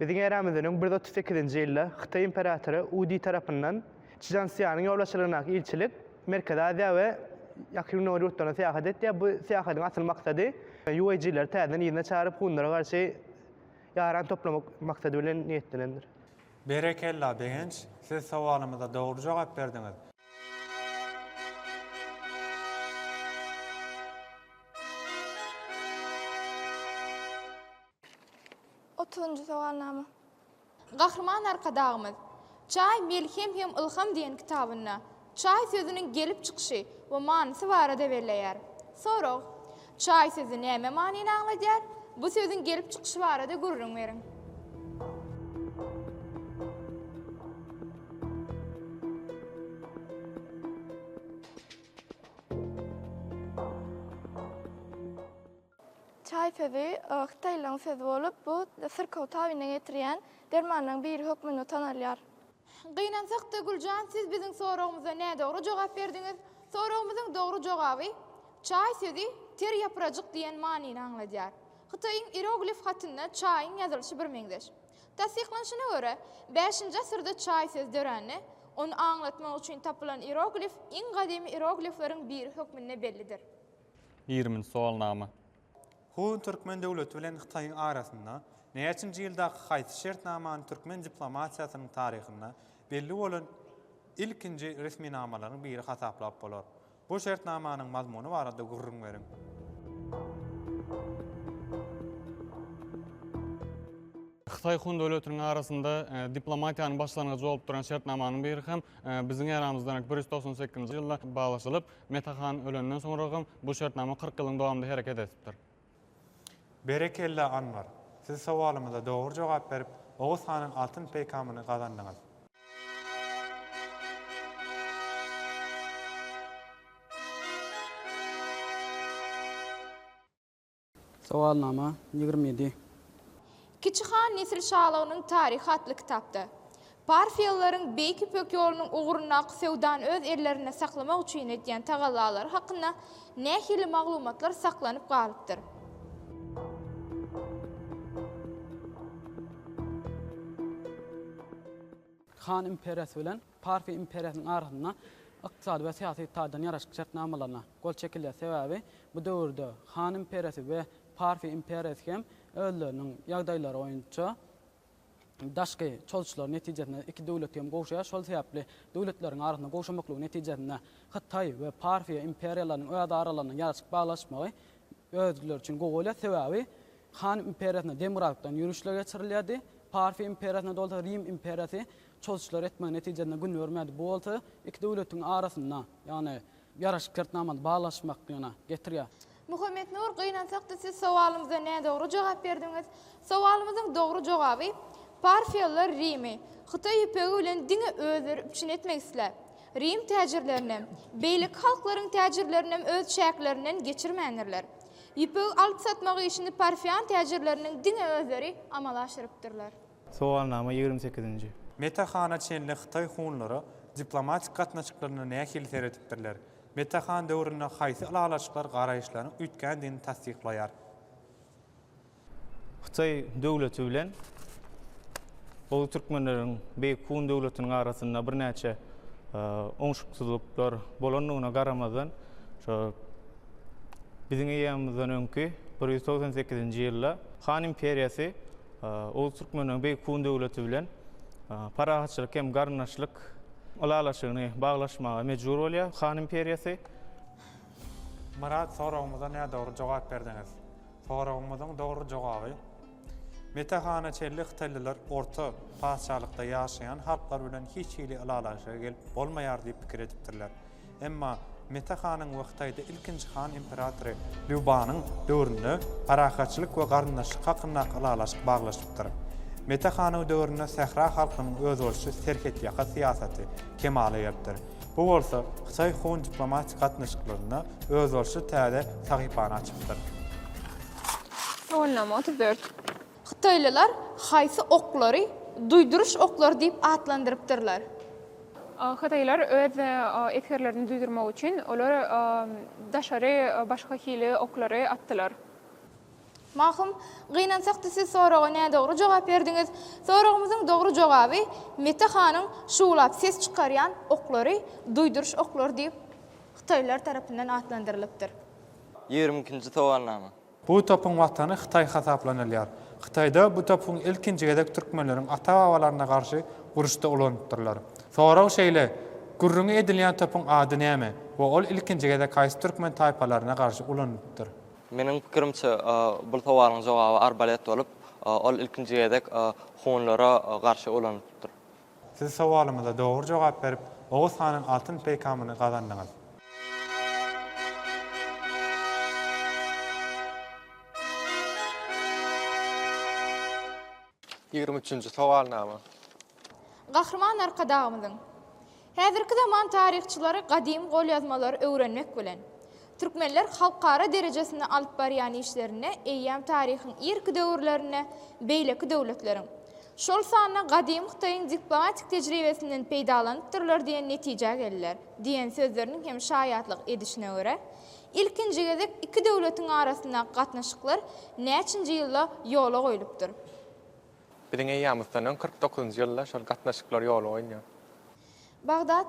Biziň eramyzynyň bir ýüz otuz sekizinji ýylda Hytaý imperatory U Di tarapyndan Çžanszýanyň ýolbaşçylygyndaky ilçilik Merkezi Aziýa we Ýakyn Gündogar ýurtlaryna syýahat etýär. Bu syýahatyň asyl maksady Ýuejileri täzeden yzyna çagyryp, hunlara garşy ýaran toplamak maksady bilen niýetlenendir. Berekella Begenç, siz sowalymyza dogry jogap berdiňiz. Otuzynjy sowalnama. Gahryman Arkadagymyz Çaý, melhem hem ylham diýen kitabynda çaý sözüniň gelip çykyşy we manysy barada belleýär. Sorag, Çaý sözi näme manyny aňladýar? Bu sözüň gelip çykyşy barada gürrüň beriň. Çaý sözi hytaýlaryň sözi bolup, bu syrkaw tabyna getirýän dermanlaryň biri hökmünde tanalýar. Gynansak-da, Güljan, siz biziň soragymyza nädogry jogap berdiňiz. Soragymyzyň dogry jogaby, Çaý sözi ter ýaprajyk diýen manyny aňladýar. Hytaýyň ieroglif hatynda çaýyň ýazylyşy birmeňzeş. Tassyklanyşyna görä, bäşinji asyrda çaý sözi dörände, ony aňlatmak üçin tapylan ieroglif iň gadymy ieroglifleriň biri hökmünde bellidir. Ýigriminji sowalnama. Hun türkmen döwleti bilen Hytaýyň arasynda näçinji ýyldaky haýsy şertnamany türkmen diplomatiýasynyň taryhynda belli bolan ilkinji resminamalaryň biri hasaplap bolar? Bu şertnamanyň mazmuny barada gürrüň beriň. Hytaý Hun döwletiniň arasynda diplomatiýanyň başlangyjy bolup duran şertnamanyň biri hem biziň eramyzdan bir ýüz togsan sekizinji ýylda baglaşylyp, Meta han ölenden soňragam bu şertnama kyrk ýylyň dowamynda hereket edipdir. Berekella Anwar! Siz sowalymyza dogry jogap berip, Oguz hanyň altyn peýkamyny gazandyňyz. Sowalnama ýigrimi ýedi. Kiçi han nesil şalygynyň taryhy atly kitapda, Parfiýalylaryň Beýik Ýüpek ýolunyň ugrundaky söwdany öz ellerinde saklamak üçin edýän tagallalary hakynda nähili maglumatlar saklanyp galypdyr? Han imperýasy bilen Parfiýa imperiýasynyň arasynda ykdysady we syýasy taýdan ýaraşykly şertnamalaryna gol çekilýär, sebäbi bu döwürde Han imperiýasy we Parfiýa imperiýasy hem özleriniň ýagdaýlary boýunça daşky çozuşlar netijesinde iki döwleti hem gowşaýar, şol sebäpli döwletleriň arasynda gowşamaklygy netijesinde Hytaý we Parfiýa imperiýalarynyň öz aralarynda ýaraşyk baglaşmagy özleri üçin gowy bolýar, sebäbi Han imperiýasynda demokratykdan ýörişler geçirilýärdi, Parfiýa imperiýasynda bolsa Rim imperiýasy Çozuşlar etmegiň netijesinde gün görmedi. Bu bolsa iki döwletiň arasynda, ýagny ýaraşyk şertnamany baglaşmagyna getirýär. Muhammetnur, gynansak-da siz sowalymyza nädogry jogap berdiňiz. Sowalymyzyň dogry jogaby, Parfiýalylar Rimi, Hytaý ýüpegi bilen diňe özleri üpjün etmek isläp, Rim täjirlerinem, beýleki halklaryň täjirlerinem öz çäklerinden geçirmändirler. Ýüpegi alyp-satmak işini parfiýan täjirleriniň diňe özleri amala aşyrypdyrlar. Sowalnama ýigrimi sekizinji. Meta Hana çenli Hytaý hunlary diplomatik gatnaşyklaryna nähili seredipdirler? Meta Han döwründe haýsy ylalaşyklar garaýyşlaryň üýtgändigini tassyklaýar? Hytaý döwleti bilen Uly Türkmenleriň Beýik Hun döwletiniň arasynda birnäçe oňşuksyzlyklar bolandygyna garamazdan, şo biziň eýýamymyzdan öňki bir ýüz togsan sekizinji ýylda Han imperiýasy Oguz türkmeniniň beýik hun döwleti bilen parahatçylyk hem garyndaşlyk ylalaşygyny baglaşmaga mejbur bolýar han imperiýasy. Myrat soragymyza nädogry jogap berdiňiz. Soragymyzyň dogry jogaby, Mete hana çenli hytaýlylar orta patyşalykda ýaşaýan halklar bilen hiç hili ylalaşyga gelip bolmaýar diýip pikir edipdirler. Emma Mete hanyň we Hytaýda ilkinji han imperatory Lýu Banyň döwründe parahatçylyk we garyndaşlyk hakyndaky ylalaşyk baglaşypdyr. Mete hanyw döwründe sähra halkynyň özboluşly serhetýaka syýasaty kemala gelipdir. Bu bolsa hytaý-hun diplomatik gatnaşyklarynda özboluşly täze sahypany açypdyr. Ýollama otuz dört. Hytaýlylar haýsy oklary duýduryş oklary diýip atlandyrypdyrlar? Hytaýlylar öz esgerlerini duýdurmak üçin olar daşary başga hili oklary atdylar. Mahym, gynansak-da siz soraga nädogry jogap berdiňiz. Soragymyzyň dogry jogaby Mete hanyň şuwlap ses çykarýan oklary duýduryş oklary diýip hytaýlylar tarapyndan atlandyrylypdyr. Ýigrimi ikinji sowalnama. Bu topuň watany Hytaý hasaplanylýar. Hytaýda bu topuň ilkinji gezek türkmenleriň ata-babalaryna garşy uruşda ulanypdyrlar. Sorag şeýle, Gürrüňi edilýän topuň ady näme we ol ilkinji gezek haýsy türkmen taýpalaryna garşy ulanylypdyr? Meniň pikirimçe, bul sowalyň jogaby arbalet bolup, ol ilkinji gezek hunlara garşy ulanylypdyr. Siz sowalymyza dogry jogap berip, Oguz hanyň altyn peýkamyny gazandyňyz. Ýigrimi üçünji sowalnama. Gahryman Arkadagymyzyň, Häzirki zaman taryhçylary gadym golýazmalary öwrenmek bilen, Türkmenler halkara derejesinde alyp barýan işlerinde eýýäm taryhyň irki döwürlerinde beýleki döwletleriň, şol sanda gadymy Hytaýyň diplomatik tejribesinden peýdalanypdyrlar diýen netijä geldiler diýen sözleriniň hem şaýatlyk edişine görä, ilkinji gezek iki döwletiň arasyndaky gatnaşyklar näçinji ýylda ýola goýlupdyr? Biziň eýýamyzdan öň kyrk dokuzynjy ýylda şol gatnaşyklar ýola goýulýar. Bagdat,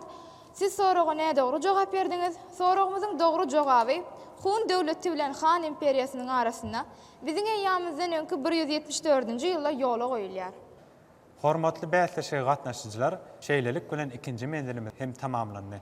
Siz soraga nädogry jogap berdiňiz. Soragymyzyň dogry jogaby, Hun döwleti bilen Han imperiýasynyň arasynda Biziň eýýamyzdan öňki bir ýüz ýetmiş dördünji ýylda ýola goýulýar. Hormatly bäsleşige gatnaşyjylar, şeýlelik bilen ikinji menzilimiz hem tamamlandy.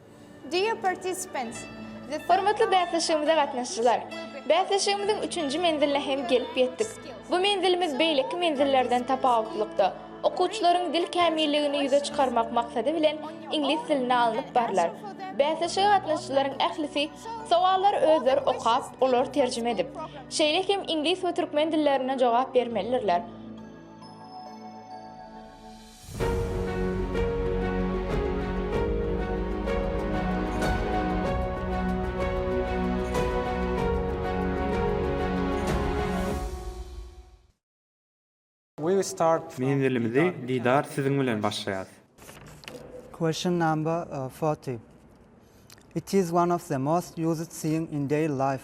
Dear participants, the Hormatly bäsleşigimize gatnaşyjylar! Bäsleşigimiziň üçünji menziline hem gelip ýetdik. Bu menzilimiz beýleki menzillerden tapawutlylykda, okuwçylaryň dil kämilligini ýüze çykarmak maksady bilen iňlis dilinde alnyp barlar. Bäsleşige gatnaşyjylaryň ählisi sowallary özleri okap, olary terjime edip, şeýle hem iňlis we türkmen dillerinde jogap bermelidirler. Menzilimizi didar siziň bilen başlaýas. Question number forty. It is one of the most used thing in daily life.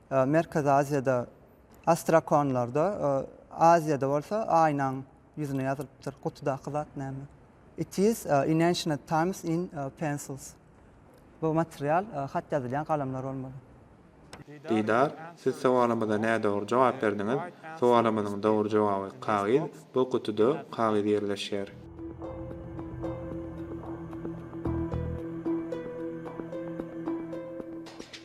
Merkezi Aziýada astrakonlarda, Aziýada bolsa aýnaň ýüzüne ýazylypdyr. Gutudaky zat näme? It is in ancient times in pencils. Bu material hat ýazylýan galamlar bolmaly. Didar, siz sowalymyza nädogry jogap berdiňiz. Sowalymyzyň dogry jogaby kagyz. Bu gutuda kagyz ýerleşýär.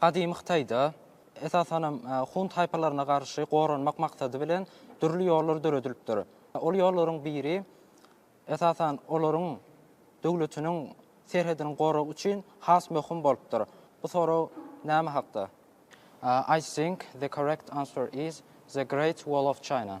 Gadymy Hytaýda, esasanam, hun taýpalaryna garşy goranmak maksady bilen dürli ýollar döredilipdir. Ol ýollaryň biri, esasan, olaryň döwletiniň serhediniň goragy üçin has möhüm bolupdyr. Bu sorag näme hakda? I think the correct answer is the Great Wall of China.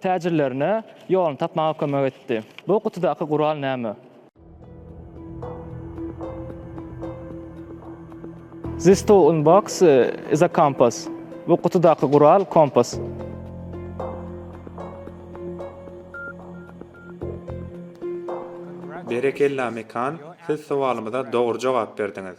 täjirlerine ýoluny tapmaga kömek etdi. Bu gutudaky gural näme? This tool box is a compass. Bu gutudaky gural kompas. Berekella Mekan, siz sowalymyza dogry jogap berdiňiz.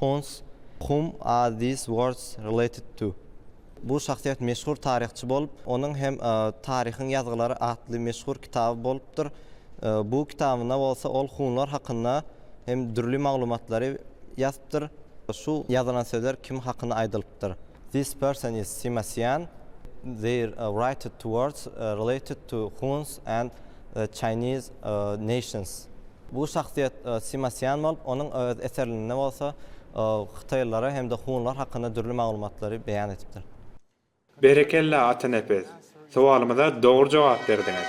Huns, Whom are these words related to? Bu şahsyýet meşhur taryhçy bolup, onuň hem Taryhyň ýazgylary atly meşhur kitaby bolupdyr. Bu kitabynda bolsa ol hunlar hakynda hem dürli maglumatlary ýazypdyr. Şu ýazylan sözler kim hakynda aýdylypdyr? This person is Sima-Sian, their writed to words related to Huns and the Chinese nations. Bu şahsyýet Sima-Sian bolup, onuň öz eserinde bolsa hytaýlylara hem-de hunlar hakynda dürli maglumatlary beýan edipdir. Berekella Atanepes! Sowalymyza dogry jogap berdiňiz.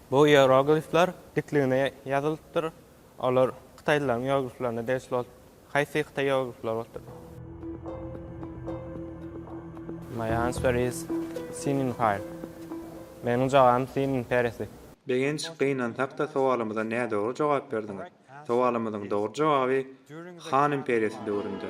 Bu ieroglifler dikligine ýazylypdyr. Olar hytaýlylaryň ierogliflerine degişli bolup, haýsy hytaý ieroglifleri bolupdyr? My answer is Sininpar. Meniň jogabym Sinin perisi. Begenç, gynansak-da sowalymyza nädogry jogap berdiňiz. Sowalymyzyň dogry jogaby Han imperiýasy döwründe.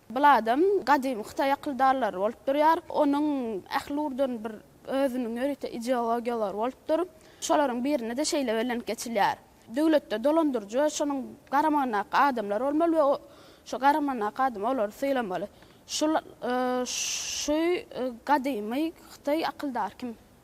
Bladam gadymy hytaý akyldarlary bolup durýar. Onuň ähluwdan bir özüniň ýörite ideologiyalary bolupdyr. Şolaryň birinde-de şeýle bellenip geçilýär. Döwletde dolandyryjy we şonuň garamagyndaky adamlar bolmaly we şo garamagyndaky adam olary sylamaly. Şul şuy gadymy hytaý akyldary kim?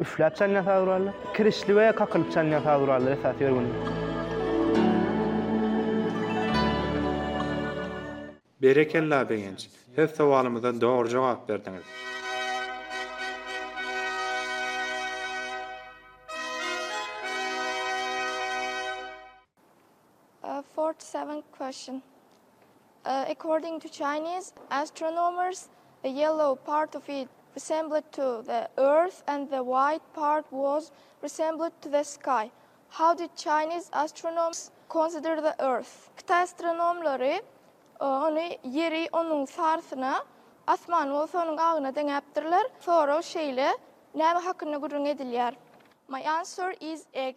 Üfläp çanýan saz guraly. Kirişli we kakylyp çanýan saz gurallary esasy ýörgünler. Berekella Begenç! Siz sowalymyza dogry jogap berdiňiz. Forty seventh question. According to Chinese astronomers, the yellow part of it resembled to the earth and the white part was resembled to the sky. How did Chinese astronoms consider the earth? Hytaý astronomlary ony ýeri onuň sarysyna, asmany bolsa onuň agyna deňäpdirler. Sorag şeýle, Näme hakynda gürrüň edilýär? My answer is egg.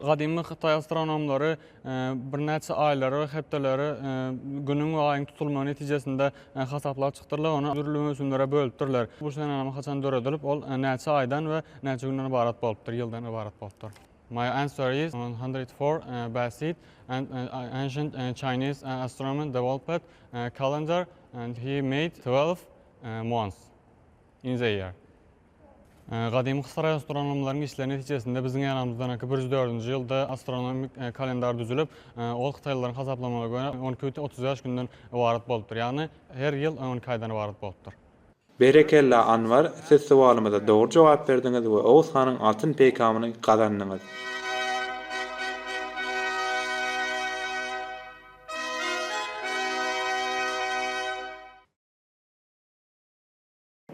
Gadymy hytaý astronomlary birnäçe aýlary we hepdeleri Günüň we Aýyň tutulmagy netijesinde hasaplap çykdyrlar, ony dürli möwsümlere bölüpdirler. Bu senenama haçan döredilip, ol näçe aýdan we näçe günden ybarat bolupdyr, ýyldan ybarat bolupdyr? My answer is one hundred four BCD and ancient Chinese astronomer developed a calendar and he made twelve months in the year. Gadymy Hytaý astronomlarynyň işleri netijesinde biziň eramyzdanky bir ýüz dördünji ýylda astronomik kalendar düzülip, ol hytaýlylaryň hasaplamagyna görä, on iki bit otuz bäş günden ybarat bolupdyr. Ýagny her ýyl on iki aýdan ybarat bolupdyr. Berekella Anwar siz sowalymyza dogry jogap berdiňiz we Oguz hanyň altyn peýkamyny gazandyňyz.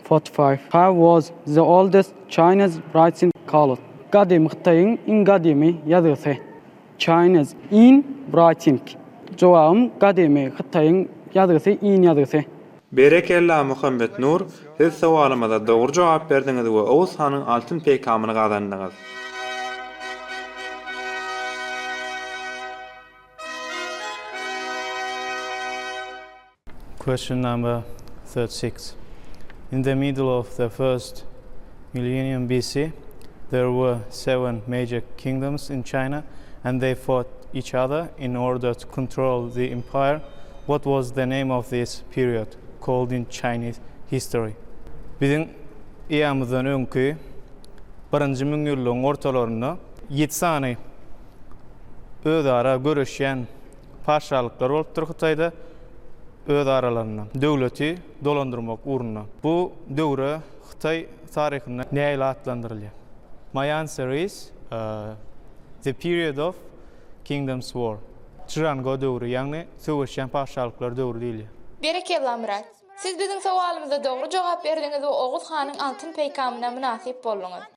Forty-five. He was the oldest Chinese writing called, Gadymy Hytaýyň iň gadymy ýazgysy. Chinese, in, writing. Jogabym Gadymy Hytaýyň ýazgysy in ýazgysy. Berekella Muhammetnur, siz sowalymyza dogry jogap berdiňiz we Oguz hanyň altyn peýkamyny gazandyňyz. Question number thirty six. In the middle of the first millennium BC, there were seven major kingdoms in China and they fought each other in order to control the empire. What was the name of this period called in Chinese history? Biziň eamyzdan öňki birinji müňýyllygyň ortalarynda ýedi sany özara göreşýän Patyşalyklar bolupdyr Hytaýda öz aralarynda döwleti dolandyrmak ugrunda. Bu döwre hytaý taryhynda näýle atlandyrylýar? Maýan Series, The Period of Kingdoms War. Çžango döwri, ýagny söweşýän patyşalyklar döwri diýilýär. Berekella Myrat! Siz biziň sowalymyza dogry jogap berdiňiz we Oguz hanyň altyn peýkamyna mynasyp bolduňyz.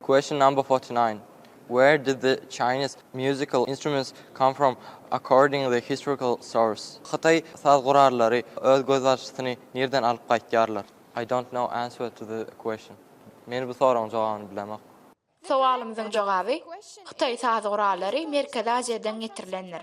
Question number forty nine, Where did the Chinese musical instruments come from according the historical source? Hytaý saz gurallary öz gözbaşysyny nirden alyp gaýtýarlar? I don't know answer to the question, Men bu soragyň jogabyny bilemok. Sowalymyzyň jogaby, Hytaý saz gurallary Merkezi Aziýadan getirilendir.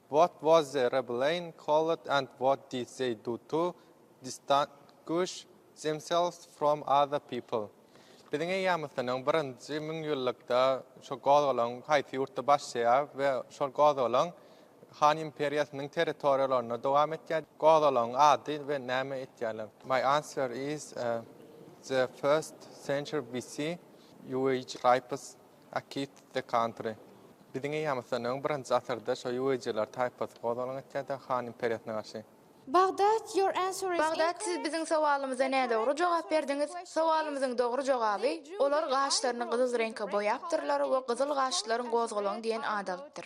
What was the rebellion called and what did they do to distinguish themselves from other people? Biziň eýýamysynyň birinji müňýyllykda şo gozgalaň haýsy ýurtda başlaýar we şol gozgalaň Han imperiýasynyň territoriýalarynda dowam etýär? Gozgalaň ady we näme etýärler? My answer is the first century BC. Ýueýj Raýpys A Kid the Country. Biziň eýýamyzdan öň birinji asyrda şo ýuweýjeler taýpasy gozgalaň etýärdi Han imperiýasyna garşy. Bagdat, your answer is incorrect. Bagdat, siz biziň sowalymyza nädogry jogap berdiňiz. Sowalymyzyň dogry jogaby, Olar gaşlaryny gyzyl reňke boýapdyrlar we gyzyl gaşlylaryň gozgalaň diýen at alypdyr.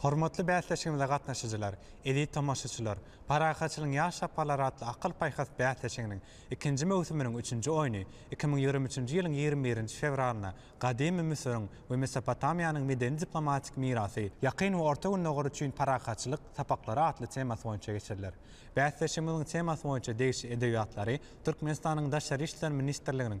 Hormatly bäsleşigimize gatnaşyjylar, eziz tomaşaçylar! Parahatçylygyň ýaş saparlary atly akyl-paýhas bäsleşiginiň ikinji möwsüminiň üçünji oýny iki müň ýigrimi üçünji ýylyň ýigrimi birinji fewralynda gadymy Müsüriň we Mesopotamiýanyň medeni-diplomatik mirasy, Ýakyn we Orta Gündogar üçin parahatçylyk sapaklary atly temasy boýunça geçiriler. Bäsleşigimiziň temasy boýunça degişli edebiýatlary Türkmenistanyň Daşary işler ministrliginiň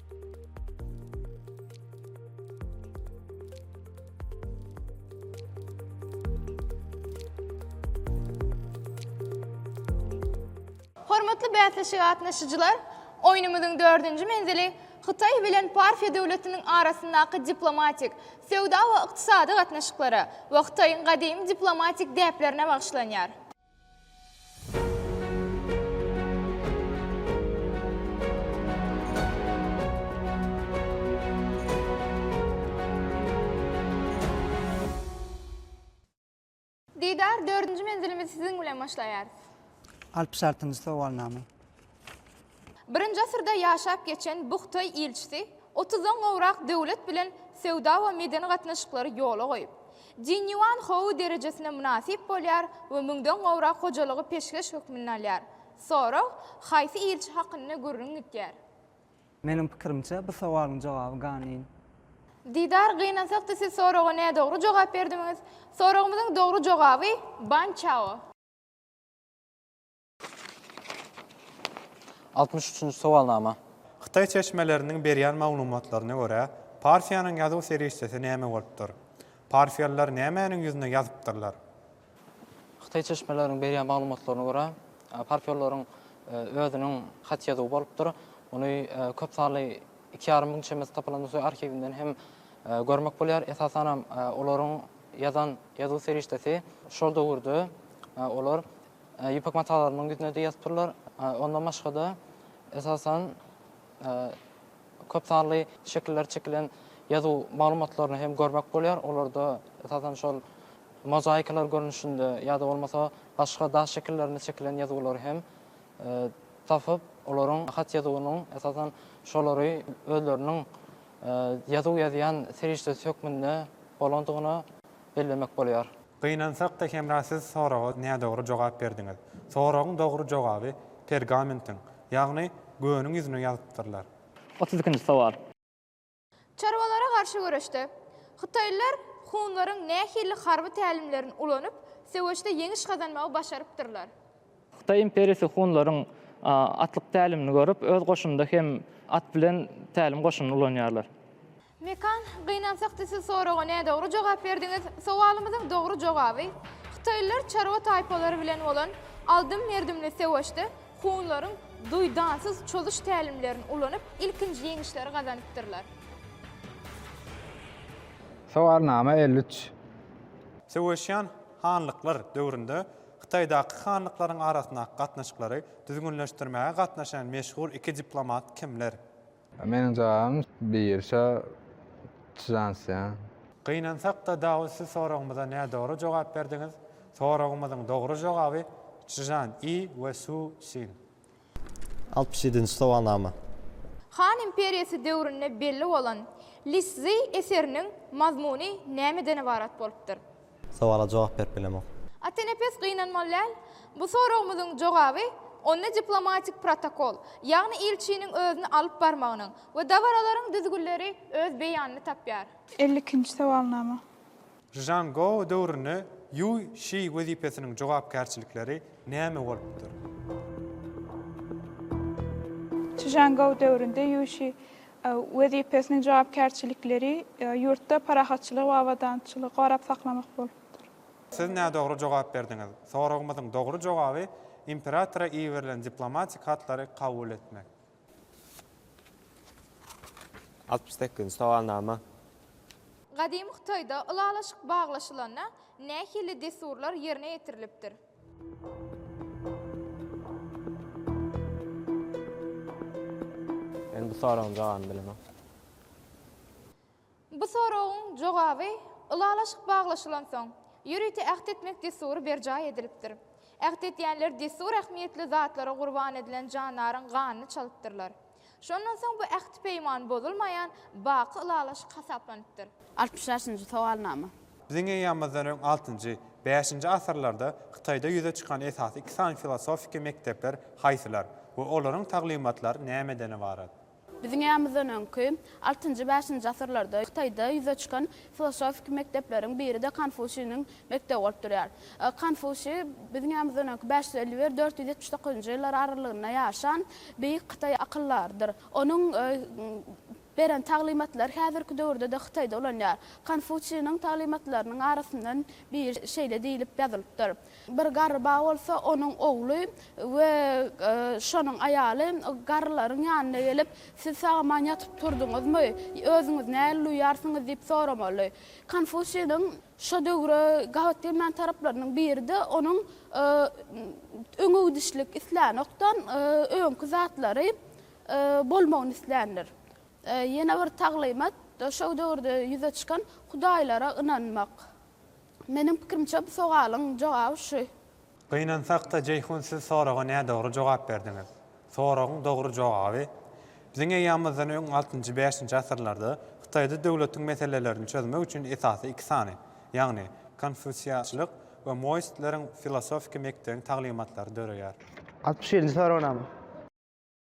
Hormatly bäsleşige gatnaşyjylar, oýnumyzyň dördünji menzili Hytaý bilen Parfiýa döwletiniň arasyndaky diplomatik, söwda we ykdysady gatnaşyklara we Hytaýyň gadymy diplomatik däplerine bagyşlanýar. Didar, dördünji menzilimizi siziň bilen başlaýarys. Alp şartynjy sowalnama. Birinji asyrda ýaşap geçen Buhtaý ilçisi otuzdan gowrak döwlet bilen söwda we medeni gatnaşyklary ýola goýup, Dinýuan Hou derejesine mynasyp bolýar we müňden gowrak hojalygy peşgeş hökmünde alýar. Sorag, Haýsy ilçi hakynda gürrüň gitýär? Meniň pikirimçe, bu sowalyň jogaby Ganin. Didar, Gynansakda siz soraga nädogry jogap berdimiz. Soragymyzyň dogry jogaby Ban Çao. Altmyş üçünji sowalnama. Hytaý çeşmeleriniň berýän maglumatlaryna görä, Parfiýanyň ýazuw serişdesi näme bolupdyr? Parfiýalylar nämäniň ýüzüne ýazypdyrlar? Hytaý çeşmeleriniň berýän maglumatlaryna görä, parfiýalylaryň özüniň hat ýazuwy bolupdyr. Ony köp sanly iki ýarym müň çemesi tapylan Nusaý arhiwinden hem görmek bolýar. Esasanam olaryň ýazan ýazuw serişdesi şol döwürde olar ýüpek matalarymyň ýüzüne diýasporlar, ondan başga-da, esasan, köp sanly şekiller çekilen ýazuw maglumatlaryny hem görmek bolýar. Olarda, esasan, şol mozaikalar görnüşinde ýa-da bolmasa başga daş şekillerinde çekilen ýazuwlary hem tapyp, olaryň hat ýazuwynyň, esasan, şolary özleriniň ýazuw ýazýan serişdesi hökmünde bolandygyny bellemek bolýar. Gynansak-da Hemra siz soraga nädogry jogap berdiňiz. Soragyň dogry jogaby pergamentiň, ýagny göwniň ýüzüne ýazypdyrlar. Otuz ikinji sowal. Çarwalara garşy göreşde, hytaýlylar hunlaryň nähili harby tälimlerini ulanyp, söweşde ýeňiş gazanmagy başarypdyrlar? Hytaý imperiýasy hunlaryň atlyk tälimini görüp, öz goşunynda hem at bilen tälim goşunyny ulanýarlar. Mekan, gynansak da siz soraga nädogry jogap berdiňiz. Sowalymyzyň dogry jogaby, Hytaýlylar çarwa taýpalary bilen bolan aldym-merdimli söweşde hunlaryň duýdansyz çozuş tälimlerini ulanyp, ilkinji ýeňişleri gazanypdyrlar. Sowalnama elli üç. Söweşýän hanlyklar döwründe Hytaýdaky hanlyklaryň arasyndaky gatnaşyklary düzgünleşdirmäge gatnaşan meşhur iki diplomat kimler? Meniň jagam birşa çzansýa. Gynansakda Dawut siz soragymyza nädogry jogap berdiňiz. Soragymyzyň dogry jogaby Çžan I we Su Sin. Altmyş ýedinji sowalnama. Han imperiýasy döwründe belli bolan Liszi eseriniň mazmuny nämeden ybarat bolupdyr? Sowala jogap berip bilemok. Atenepes gynanmaly däl. Bu soragymyzyň jogaby onda diplomatik protokol, ýagny ilçiniň özüni alyp barmagynyň we dabaralaryň düzgünleri öz beýanyny tapýar. Elli ikinji sowalnama. Rzhan Gou döwründe Ýuý Şi wezipesiniň jogapkärçilikleri näme bolupdyr? Rzhan Gou döwründe Ýuý Şi wezipesiniň jogapkärçilikleri ýurtda parahatçylygy we abadançylygy gorap saklamak bolupdyr. Siz nädogry jogap berdiňiz. Soragymyzyň dogry jogaby imperatora iberilen diplomatik hatlary kabul etmek. Altmyş sekizinji sowalnama. Gadymy Hytaýda ylalaşyk baglaşylanda nähili dessurlar ýerine ýetirilipdir? Men bu soragyň jogabyny bilemok. Bu soragyň jogaby Ylalaşyk baglaşylansoň, ýörite äht etmek dessury berjaý edilipdir. Äht edýänler dessur ähmiýetli zatlara gurban edilen jandaryň ganyny çalypdyrlar. Şondan soň bu ähti-peýman bozulmaýan baky ylalaşyk hasaplanypdyr. Altmyş altynyjy sowalnama. Biziň eýýamymyzdan öň altynjy, bäşinji asyrlarda Hytaýda ýüze çykan esasy iki sany filosofiki mekdepler haýsylar we olaryň taglymatlary nämeden ybarat? Biziň eýýamymyzdan öňki, altynjy, bäşinji asyrlarda Hytaýda ýüze çykan filosofiki mekdepleriň biri-de Konfusiniň Mekdep bolup durýar. Konfusýi biziň ýanymyzdan öňki bäş ýüz elli bir, dört ýüz ýetmiş dokuzynjy ýyllar aralygynda ýaşan beýik hytaý akyldarydyr. Onuň beren taglymatlary häzirki döwürde-de Hytaýda ulanýar. Konfusýiniň taglymatlarynyň arasyndan biri şeýle diýlip ýazylypdyr, Bir garry ba bolsa, onuň ogly we şonuň aýaly garrylaryň ýanyna gelip, Siz sag-aman ýatyp turduňyzmy? Özüňizi nähili duýýarsyňyz? diýip soramaly. Konfusýiniň. Şo döwre gabat gelmän taraplarynyň biri-de onuň öňegidişlik islänokdan, öňki zatlary bolmagyny isländir. Ýene bir taglymat, şo döwürde ýüze çykan hudaýlara ynanmak. Meniň pikirimçe bu sogalyň jogaby şu. Gynansak-da Jeýhun siz soraga nädogry jogap berdiňiz. Soragyň dogry jogaby, Biziň eýýamymyzdan öň altynjy, bäşinji asyrlarda Hytaýda döwletiň meselelerini çözmek üçin esasy iki sany, ýagny konfusiýaçylyk we moistleriň filosofiki mekdebiň taglymatlary döreýär. Altmyş ýedinji soragnama.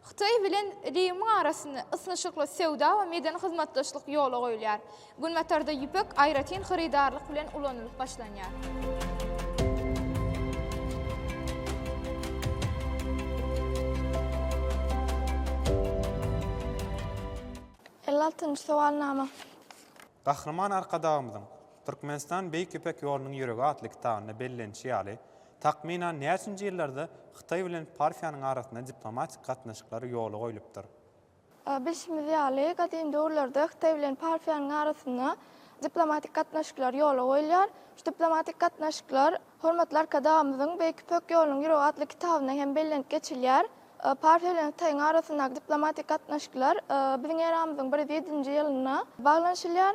Hytaý bilen Rimiň arasynda ysnyşykly söwda we medeni hyzmatdaşlyk ýola goýulýar. Günbatarda ýüpek aýratyn hyrydarlyk bilen ulanylyp başlanýar. Elli altynjy sowalnama. Gahryman Arkadagymyzyň Türkmenistan Beýik Ýüpek ýolunyň ýüregi atly kitabynda bellenişi ýaly, takmynan näçinji ýyllarda Hytaý bilen Parfiýanyň arasynda diplomatik gatnaşyklar ýola goýlupdyr? Bilşimiz ýaly, gadym döwürlerde Hytaý bilen Parfiýanyň arasynda diplomatik gatnaşyklar ýola goýulýar. Şu diplomatik gatnaşyklar hormatly Arkadagymyzyň Beýik Ýüpek ýolunyň ýüregi atly kitabynda hem bellenip geçilýär. Parfiýa bilen Hytaýyň arasyndaky diplomatik gatnaşyklar biziň eramyzyň bir ýüz ýedinji ýylynda baglanyşylýar.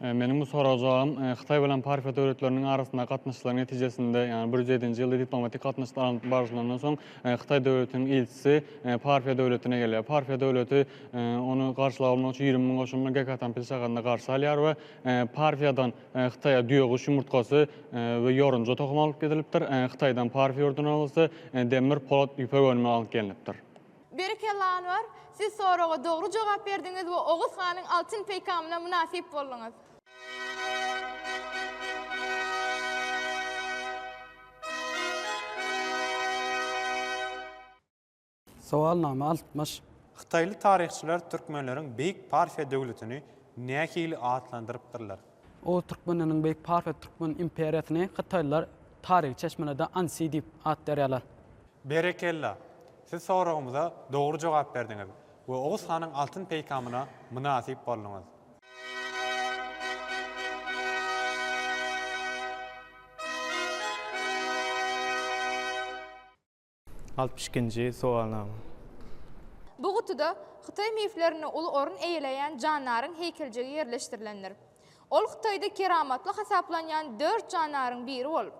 Meniň bu soraga jogabym, Hytaý bilen Parfiýa döwletleriniň arasyndaky gatnaşyklar netijesinde, ýagny bir ýüz ýedinji ýylda diplomatik gatnaşyklar alnyp barlandan soň, Hytaý döwletiniň ilçisi Parfiýa döwletine gelýär. Parfiýa döwleti ony garşylap almak üçin ýigrimi müň goşunyny Gekatanpil şäherinde garşy alýar we Parfiýadan Hytaýa düýeguş ýumurtgasy we ýorunja tohumy alyp gidilipdir. Hytaýdan Parfiýa ýurduna bolsa demir, polat, ýüpek önümleri alyp gelnipdir. Berekella Anwar, siz soraga dogry jogap berdiňiz we Oguz hanyň altyn peýkamyna mynasyp bolduňyz. Sowalnama altmyş. Hytaýly taryhçylar türkmenleriň Beýik Parfiýa döwletini nähili atlandyrypdyrlar? Oguz türkmenleriniň beýik Parfiýa türkmen imperiýasyny hytaýlylar taryhy çeşmelerde Ansi diýip at berýärler. Berekella! Siz soragymyza dogry jogap berdiňiz we Oguz hanyň altyn peýkamyna mynasyp bolduňyz. Altmyş ikinji sowalnama. Bu gutuda hytaý miflerinde uly orun eýeleýän jandaryň heýkeljigi ýerleşdirilendir. Ol Hytaýda keramatly hasaplanýan dört jandaryň biri bolup,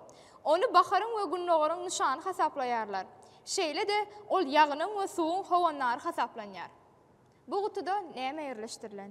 ony baharyň we gündogaryň nyşany hasaplaýarlar. Şeýle-de, ol ýagynyň we suwuň howandary hasaplanýar. Bu gutuda näme ýerleşdirilen?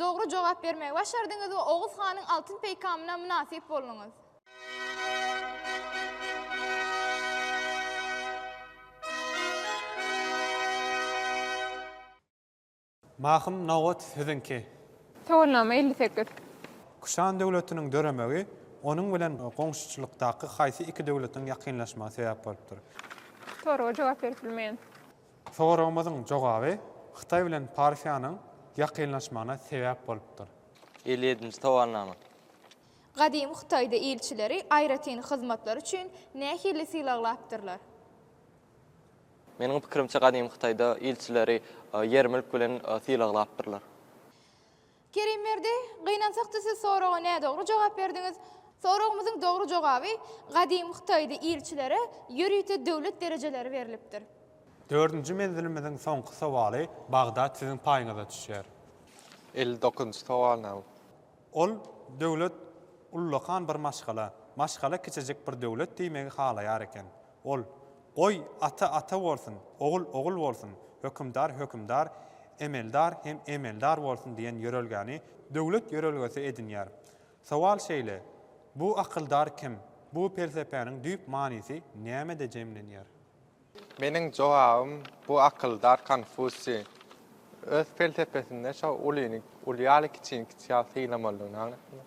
Dogry jogap bermegi başardyňyz we Oguz hanyň altyn peýkamyna mynasyp bolduňyz. Mahym nobat siziňki. Sowalnama elli sekiz. Kuşan döwletiniň döremegi onuň bilen goňşuçylykdaky haýsy iki döwletiň ýakynlaşmagy sebäp bolupdyr? Soraga jogap berip bilmeýän. Soragymyzyň jogaby Hytaý bilen Parfiýanyň ýakynlaşmagyna sebäp bolupdyr. Elli ýedinji sowalnama. Gadymy Hytaýda ilçileri aýratyn hyzmatlary üçin nähili sylaglapdyrlar? Meniň pikirimçe gadymy Hytaýda ilçileri ýermülk bilen sylaglapdyrlar. Kerimberdi, Gynansakda siz soraga nädogry jogap berdiňiz. Soragymyzyň dogry jogaby, gadymy Hytaýda ilçilere ýörite döwlet derejeleri berlipdir. Dördünji menzilimiziň soňky sowaly, Bagdat siziň paýyňyza düşýär. Elli dokuzynjy sowal näme? Ol, Döwlet ullakan bir maşgala. Maşgala kiçijik bir döwlet diýmegi halaýar eken. Ol, Goý, ata ata bolsun, ogul ogul bolsun, hökümdar hökümdar, emeldar hem emeldar bolsun diýen ýörelgäni döwlet ýörelgesi edinýär. Sowal şeýle, bu akyldar kim, bu pelsepäniň düýp manysy nämede jemlenýär? Meniň jogabym, bu akyldar Konfusiý. Öz pelsepesinde şo ulyny uly ýaly, kiçini kiçi ýaly sylamalydygyny aňlatýar.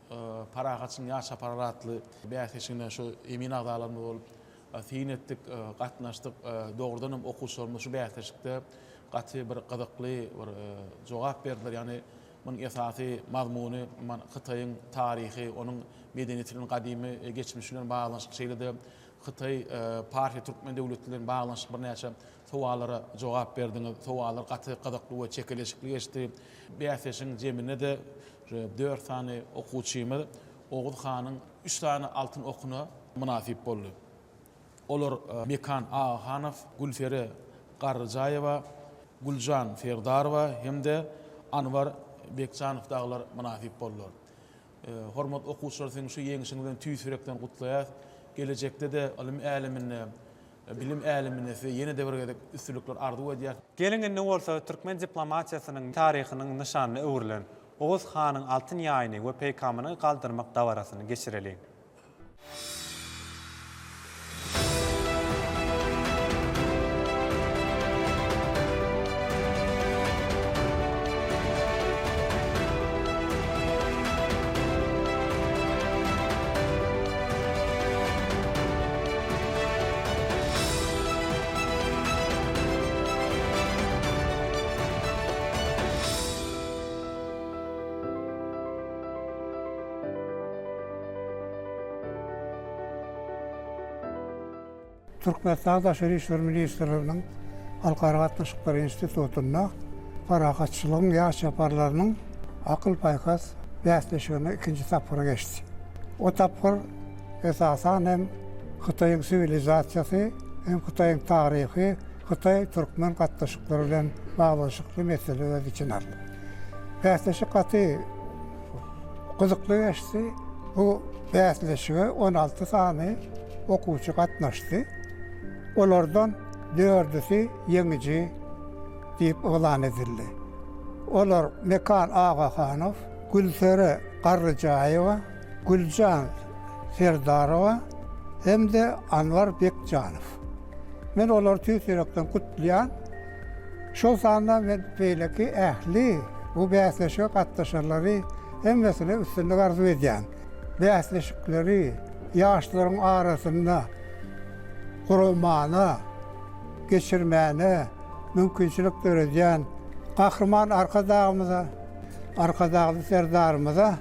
Parahatçylygyň ýaş çaparlary atly bäsleşigine şu emin agzalarymyz bolup syn etdik, gatnaşdyk. Dogrudan hem okuwçylarymyz şu bäsleşikde gaty bir gyzykly bir jogap berdiler. Ýagny munuň esasy mazmuny Hytaýyň taryhy, onuň medeniýetiniň gadymy geçmiş bilen baglanyşykly, şeýle-de Hytaý, Parfiýa, Türkmen döwleti bilen baglanyşykly birnäçe sowallara jogap berdiňiz. Sowallar gaty gyzykly we çekeleşikli geçdi. Bäsleşigiň jeminde-de Şeýle dört sany okuwçymyz Oguz hanyň üç sany altyn okuna mynasyp boldy. Olar Mekan Agahanow, Gülperi Garryjaýewa, Güljan Serdarowa hem-de Anwar Bekjanow dagylar mynasyp boldular. Hormatly okuwçylar siziň şu ýeňişiňizi tüýs ýürekden gutlaýas. Gelejekde-de ylym äleminde Bilim äleminde size ýene-de bir gezek üstünlikler arzuw edýäs. Geliň indi bolsa türkmen diplomatiýasynyň taryhynyň nyşanyna öwrülen Oguz hanyň altyn ýaýyny we peýkamyny galdyrmak dabarasyny geçireliň. Türkmenistanyň Daşary işler ministrliginiň Halkara gatnaşyklary institutynda Parahatçylygyň ýaş çaparlarynyň akyl-paýhas bäsleşigine ikinji tapgyry geçdi. O tapgyr Esasan hem Hytaýyň siwilizasiýasy hem Hytaýyň taryhy hytaý-türkmen gatnaşyklary bilen baglanyşykly mesele öz içine aldy. Bäsleşik gaty gyzykly geçdi. Bu bäsleşige on alty sany okuwçy gatnaşdy. Olardan dördüsi ýeňiji diýip yglan edildi. Olar Mekan Agahanow, Gülsere Garryjaýewa, Güljan Serdarowa hem-de Anwar Bekjanow. Men olary tüýs ýürekden gutlaýan. Şol sanda men beýleki ähli bu bäsleşige gatnaşanlary hemmesine üstünlik arzuw edýän. Bäsleşikleri ýaşlaryň arasynda guramana, geçirmäne mümkinçilik döredýän Gahryman Arkadagymyza, Arkadagly Serdarymyza,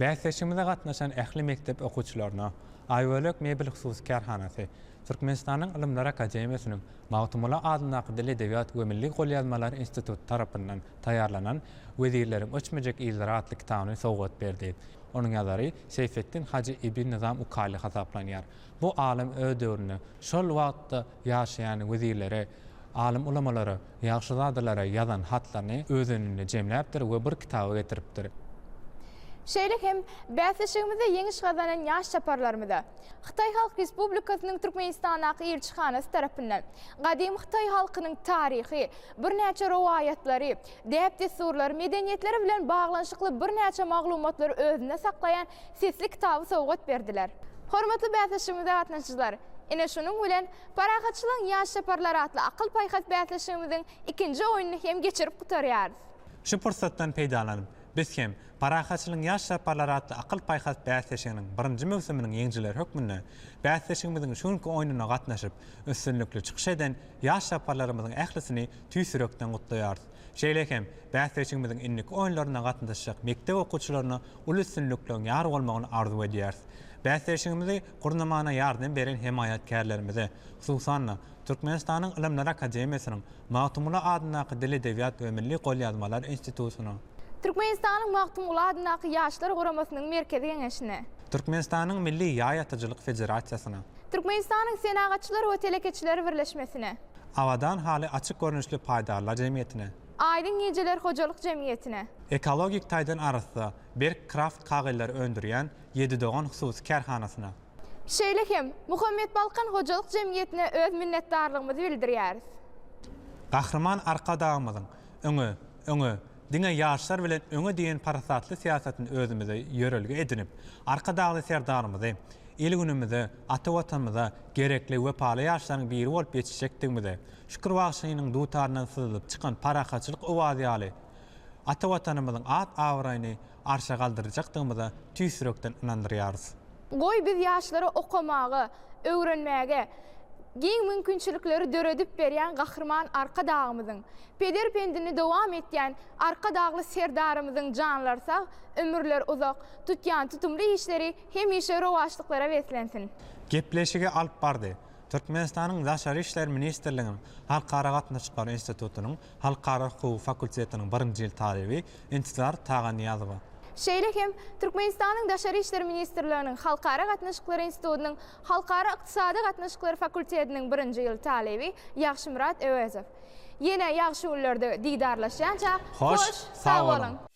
Bäsleşigimize gatnaşan ähli mekdep okuwçylaryna Aýbölek mebel hususy kärhanasy, Türkmenistanyň Ylymlar akademiýasynyň Magtymguly adyndaky Dil-edebiýat we milli golýazmalar instituty tarapyndan taýýarlanan Wezirleriň öçmejek yzlary atly kitabyny sowgat berdi. Onuň ýazary Seýfetdin Hajy ibn Nyzam Ukaýly hasaplanýar. Bu alym öz döwründe, şol wagtda, ýaşaýan wezirlere, alym-ulamalara, ýagşyzadalara ýazan hatlaryny özeninde jemläpdir we bir kitaba getiripdir. Şeýle hem bäsleşigimizde ýeňiş gazanan ýaş çaparlarymyza Hytaý Halk Respublikasynyň Türkmenistandaky Ilçihanasy tarapyndan Gadymy hytaý halkynyň taryhy, Birnäçe rowaýatlary, däp-dessurlary, medeniýetleri bilen baglanyşykly birnäçe maglumatlary özünde saklaýan sesli kitaby sowgat berdiler. Hormatly bäsleşigimize gatnaşyjylar! Ine şunuň bilen Parahatçylygyň ýaş çaparlary atly akyl-paýhas bäsleşigimiziň ikinji oýnuny hem geçirip gutarýarys. Şu pursatdan peýdalanyp, biz hem Parahatçylygyň ýaş çaparlary atly akyl-paýhas bäsleşiginiň birinji möwsüminiň ýeňijileri hökmünde bäsleşigimiziň şu günki oýnuna gatnaşyp, üstünlikli çykyş eden Ýaş çaparlarymyzyň ählisini tüýs ýürekden gutlaýarys. Şeýle hem, bäsleşigimiziň indiki oýunlaryna gatnaşjak mekdep okuwçylaryna uly üstünlikleriň ýar bolmagyny arzuw edýäris. Bäsleşigimizi gurnamana ýardam beren hemaýatkärlerimize, hususan-da, Türkmenistanyň Ylymlar akademiýasynyň Magtymguly adyndaky Dil-edebiýat we milli golýazmalar institutyna, Türkmenistanyň Magtymguly adyndaky Ýaşlar guramasynyň Merkezi Geňeşine. Türkmenistanyň Milli ýaý atyjylyk federasiýasyna. Türkmenistanyň Senagatçylar we telekeçiler birleşmesine. Abadan haly açyk görnüşli paýdarlar jemgyýetine. Aýdyň gijeler hojalyk jemgyýetine. Ekologik taýdan arassa, berk kraft kagylary öndürýän Ýedi dogan hususy kärhanasyna. Şeýle hem, Muhammetbalkan hojalyk jemgyýetine öz minnetdarlygymyzy bildirýäris. Gahryman Arkadagymyzyň, Öňe! Öňe, diňe ýaşlar bilen öňe diýen parasatly syýasatyny özümize ýörelge edinip, Arkadagly Serdarymyzy il-günümize, ata Watanymyza gerekli wepaly ýaşlaryň biri bolup ýetişjekdigimize, Şükür bagşynyň dutaryndan syzylyp çykan parahatçylyk owazy ýaly, ata Watanymyzyň at-abraýyny arşa galdyrjakdygymyza tüýs ýürekden ynandyrýarys. Goý, biz ýaşlara okamagy, öwrenmäge giň mümkinçilikleri döredip berýän Gahryman Arkadagymyzyň, peder pendini dowam etýän Arkadagly Serdarymyzyň janlary sag, ömürleri uzak, tutýan tutumly işleri hemişe rowaçlyklara beslensin! Gepleşigi alyp bardy Türkmenistanyň Daşary işler ministrliginiň Halkara gatnaşyklary institutynyň Halkara hukugy fakultetiniň birinji ýyl talyby Intizar Taganyýazowa. Şeýle hem, Türkmenistanyň Daşary işler ministrliginiň Halkara gatnaşyklary institutynyň Halkara ykdysady gatnaşyklary fakultetiniň birinji ýyl talyby Ýagşymyrat Öwezow. Ýene ýagşy günlerde didarlaşýança, hoş, sag boluň!